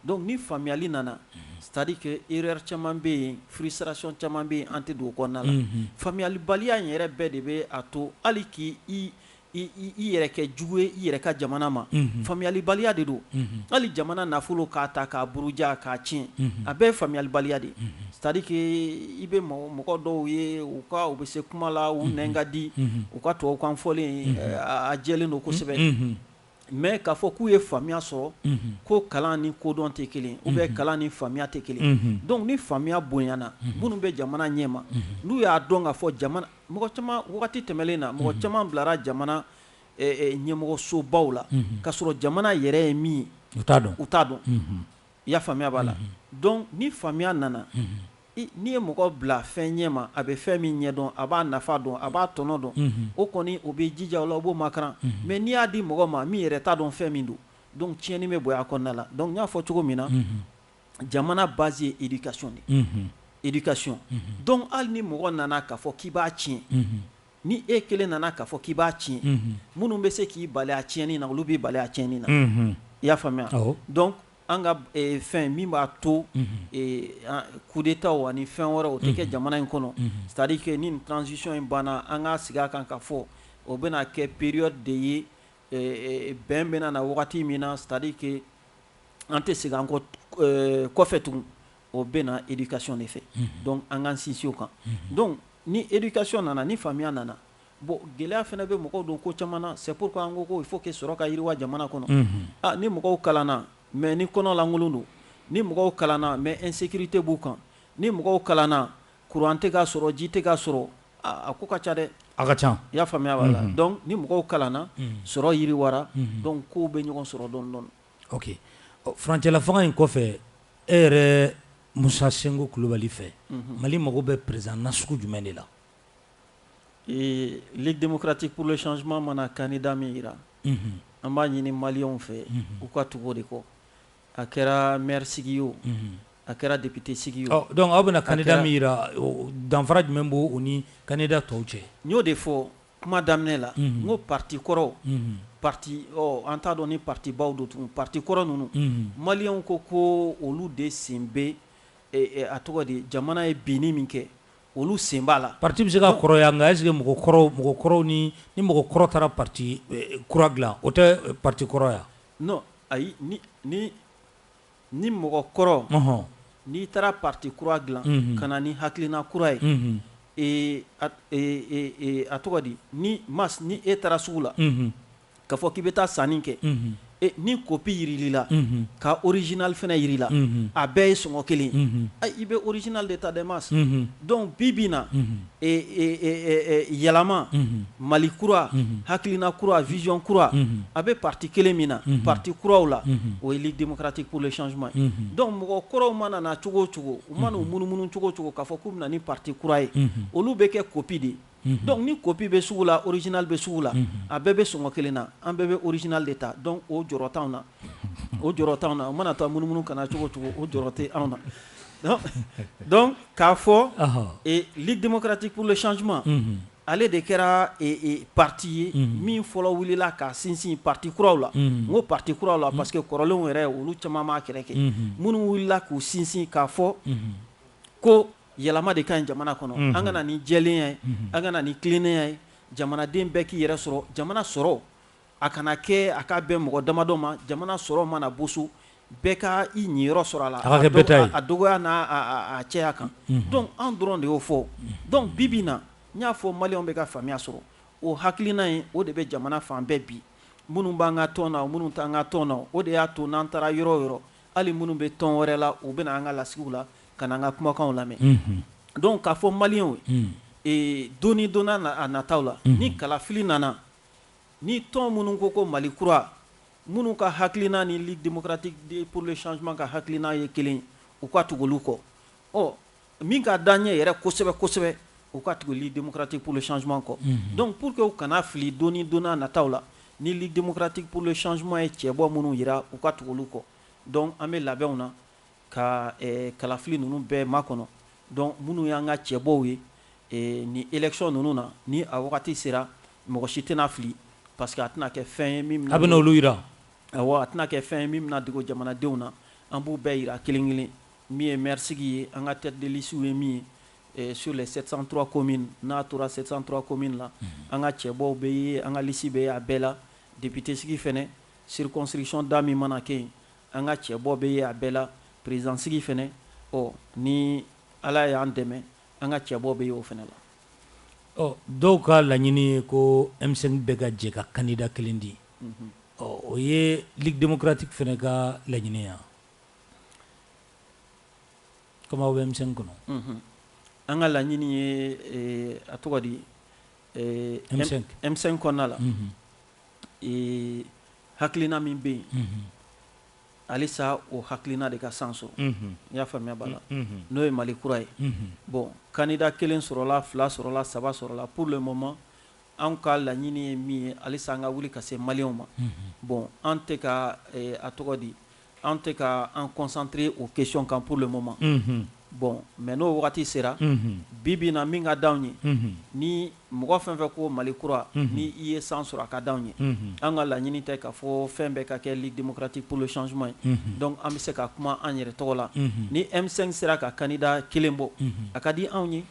donc ni faamuyali nana c'est-à-dire que erreur caman bɛ yen frustration caman bɛ yen an tɛ don o kɔnɔna la faamuyalibaliya in yɛrɛ bɛɛ de bɛ a to hali k' i yɛrɛ kɛ jugu ye i yɛrɛ ka jamana ma faamuyalibaliya de don hali jamana nafolo k'a ta k'a buruja k'a tiɲɛ a bɛɛ faamuyalibaliya de c'est-à-dire que i bɛ mɔgɔ dɔw ye u ka u bɛ se kuma la u nɛn ka di u ka tubabukan fɔlen a jɛlen don kosɛbɛ mais k'a fɔ k'u ye faamuya sɔrɔ, unhun, ko kalan ni kodɔn tɛ kelen ye ou bien kalan ni faamuya tɛ kelen ye, unhun, donc ni faamuya bonyana minnu bɛ jamana ɲɛma n'u y'a dɔn k'a fɔ jamana mɔgɔ caman wagati tɛmɛnen na mɔgɔ caman bilara jamana ɲɛmɔgɔsobaw la k'a sɔrɔ jamana yɛrɛ ye min ye u t'a dɔn, u t'a dɔn, unhun, i y'a faamuya b'a la donc ni faamuya nana N'i ye mɔgɔ bila fɛn ɲɛma a bɛ fɛn min ɲɛ dɔn a b'a nafa dɔn a b'a tɔnɔ dɔn o kɔni o bɛ jija o la o b'o makaran mais n'i y'a di mɔgɔ ma min yɛrɛ t'a dɔn fɛn min don donc tiɲɛni bɛ bonya a kɔnɔna la donc n y'a fɔ cogo min na jamana base ye éducation de éducation donc hali ni mɔgɔ nana k'a fɔ k'i b'a tiɲɛ ni e kelen nana k'a fɔ k'i b'a tiɲɛ minnu bɛ se k'i bali a tiɲɛni na olu b'i bali a tiɲɛni na i y'a faamuya An ka fɛn min b'a to coup d'Etat ani fɛn wɛrɛ o tɛ kɛ jamana in kɔnɔ c'est-à-dire que ni transition in banna an ka sigi a kan k'a fɔ o bɛna kɛ période de ye bɛn bɛna na wagati min na c'est-à-dire que an tɛ segin an kɔfɛ tugun o bɛ na éducation de fɛ donc an k'an sinsin o kan donc ni éducation nana ni faamuya nana Bon gɛlɛya fana bɛ mɔgɔw don ko caman na c'est pourquoi an ko ko il faut que sɔrɔ ka yiriwa jamana kɔnɔ, unhun, aa ni mɔgɔw kalanna mais ni kɔnɔlankolon don, ni mɔgɔw kalanna mais insécurité b'u kan, ni mɔgɔw kalanna courant tɛ ka sɔrɔ, ji tɛ ka sɔrɔ, aa a ko ka ca dɛ, a ka ca, i y'a faamuya, voilà, unhun, donc ni mɔgɔw kalanna sɔrɔ yiriwara, unhun, donc kow bɛ ɲɔgɔn sɔrɔ dɔɔnin dɔɔnin, ok, ɔ furancɛlafanga in kɔfɛ e yɛrɛ Musa Sinko Kulubali fɛ, unhun, Mali mago bɛ président nasugu jumɛn de la? Ee Ligue démocratique pour le changement mana candidat min jira an b'a ɲini maliyɛnw fɛ u ka tugu o de kɔ a kɛra maire sigi o a kɛra député sigi o donc aw bɛna candidat min jira danfara jumɛn b'o ni candidat tɔw cɛ n y'o de fɔ kuma daminɛ la n ko parti kɔrɔ parti an t'a dɔn ni parti baw don tun parti kɔrɔ ninnu maliyɛnw ko ko olu de sen bɛ a tɔgɔ di jamana ye binni min kɛ Olu sen b'a la parti bɛ se ka kɔrɔya nka est-ce que mɔgɔ kɔrɔw ni mɔgɔ kɔrɔ taara parti kura dilan o tɛ parti kɔrɔya non ayi ni mɔgɔ kɔrɔ n'i taara parti kura dilan ka na ni hakilina kura ye a tɔgɔ di ni Mas ni e taara sugu la K'a fɔ k'i bɛ taa sanni kɛ, unhun, e ni copie jirala i la, unhun, ka original fana jira i la, unhun, a bɛɛ ye sɔngɔ kelen ye, unhun, ɛ i bɛ original de ta dɛ Mas, unhun, donc bi bi in na, unhun, ee yɛlɛma, unhun, Mali kura, unhun, hakilina kura, vision kura, unhun, a bɛ parti kelen min na, unhun, parti kuraw la, unhun, o ye Ligue démocratique pour le changement ye, unhun, donc mɔgɔ kɔrɔw mana na cogo o cogo, u mana u munumunu cogo o cogo k'a fɔ k'u bɛ na ni parti kura ye, unhun, olu bɛ kɛ copie de ye. donc ni copie bɛ sugu la original bɛ sugu la a bɛɛ bɛ sɔngɔ kelen na an bɛɛ bɛ original de ta donc o jɔrɔ t'anw na o jɔrɔ t'anw na o mana taa munumunu ka na cogo o cogo o jɔrɔ tɛ anw na donc k'a fɔ Ligue démocratique pour le changement ale de kɛra parti ye min fɔlɔ wulila ka sinsin parti kuraw la n ko parti kuraw la parce que kɔrɔlenw yɛrɛ olu caman m'a kɛlɛ kɛ minnu wulila k'u sinsin k'a fɔ ko Yɛlɛma de ka ɲi jamana kɔnɔ, unhun, an ka na ni jɛlenya ye, unhun, an ka na ni tilennenya ye, jamanaden bɛɛ k'i yɛrɛ sɔrɔ, jamana sɔrɔ a kana kɛ a ka bɛn mɔgɔ damadɔ ma, jamana sɔrɔ mana boso bɛɛ ka i ɲiyɔrɔ sɔrɔ a la, a ka kɛ bɛɛ ta ye, a dɔgɔya n'a cɛya kan, unhun, donc anw dɔrɔn de y'o fɔ, donc bi bi in na n y'a fɔ maliyɛnw bɛ ka faamuya sɔrɔ o hakilina in o de bɛ jamana fan bɛɛ bi minnu b'an ka tɔn na o minnu t'an ka tɔn na o de y'a to n'an taara yɔrɔ o yɔrɔ Hali minnu bɛ tɔn wɛrɛ la u bɛ na an ka lasigiw la ka na an ka kumakanw lamɛn donc k'a fɔ maliyɛnw ye don ni don a nataw la ni kalafili nana ni tɔn minnu ko ko Mali kura minnu ka hakilina ni Ligue démocratique pour le changement ka hakilina ye kelen u ka tugu olu kɔ ɔ Min ka d'an ɲɛ yɛrɛ kosɛbɛ kosɛbɛ u ka tugu Ligue démocratique pour le changement kɔ donc pour que u kana fili don don nataw la ni Ligue démocratique pour le changement ye cɛbɔ minnu jira u ka tugu olu kɔ donc an bɛ labɛnw na ka kalafili ninnu bɛɛ makɔnɔ donc minnu y'an ka cɛbɔw ye ni élection ninnu na ni a wagati sera mɔgɔ si tɛna fili parce que a tɛna kɛ fɛn ye an bɛ olu jira a tɛna kɛ fɛn ye min bɛna dogo jamanadenw na an b'u bɛɛ jira kelen kelen Min ye maire sigi ye an ka tête de liste ye min ye sur les 703 communes n'a tora 703 communes la an ka cɛbɔw bɛ ye an ka liste bɛ ye a bɛɛ la député sigi fana circonscription da min mana kɛ yen an ka cɛbɔ bɛ ye a bɛɛ la président sigi fana ɔ ni Ala y'an dɛmɛ an ka cɛbɔ bɛ ye o fana la. Ɔ dɔw ka laɲini ye ko M5 bɛɛ ka jɛ ka candidat kelen di ɔ o ye Ligue démocratique fana ka laɲini ye wa? Kɔmi aw bɛ M5 kɔnɔ an ka laɲini ye a tɔgɔ di M5 kɔnɔna la hakilina min bɛ yen halisa o hakilina de ka san sɔrɔ n y'a faamuya b'a la n'o ye Mali kura ye bon candidat kelen sɔrɔla fila sɔrɔla saba sɔrɔla pour le moment an ka laɲini ye min ye halisa an ka wuli ka se maliyɛnw ma bon an tɛ ka a tɔgɔ di An tɛ ka an concentrer o question kan pour le moment bon mais n'o wagati sera bi bi na min ka di anw ye ni mɔgɔ fɛn fɛn ko Mali kura ni i ye san sɔrɔ a ka di anw ye an ka laɲini tɛ k'a fɔ fɛn bɛɛ ka kɛ Ligue démocratique pour le changement ye donc an bɛ se ka kuma an yɛrɛ tɔgɔ la ni M5 sera ka candidat kelen bɔ a ka di anw ye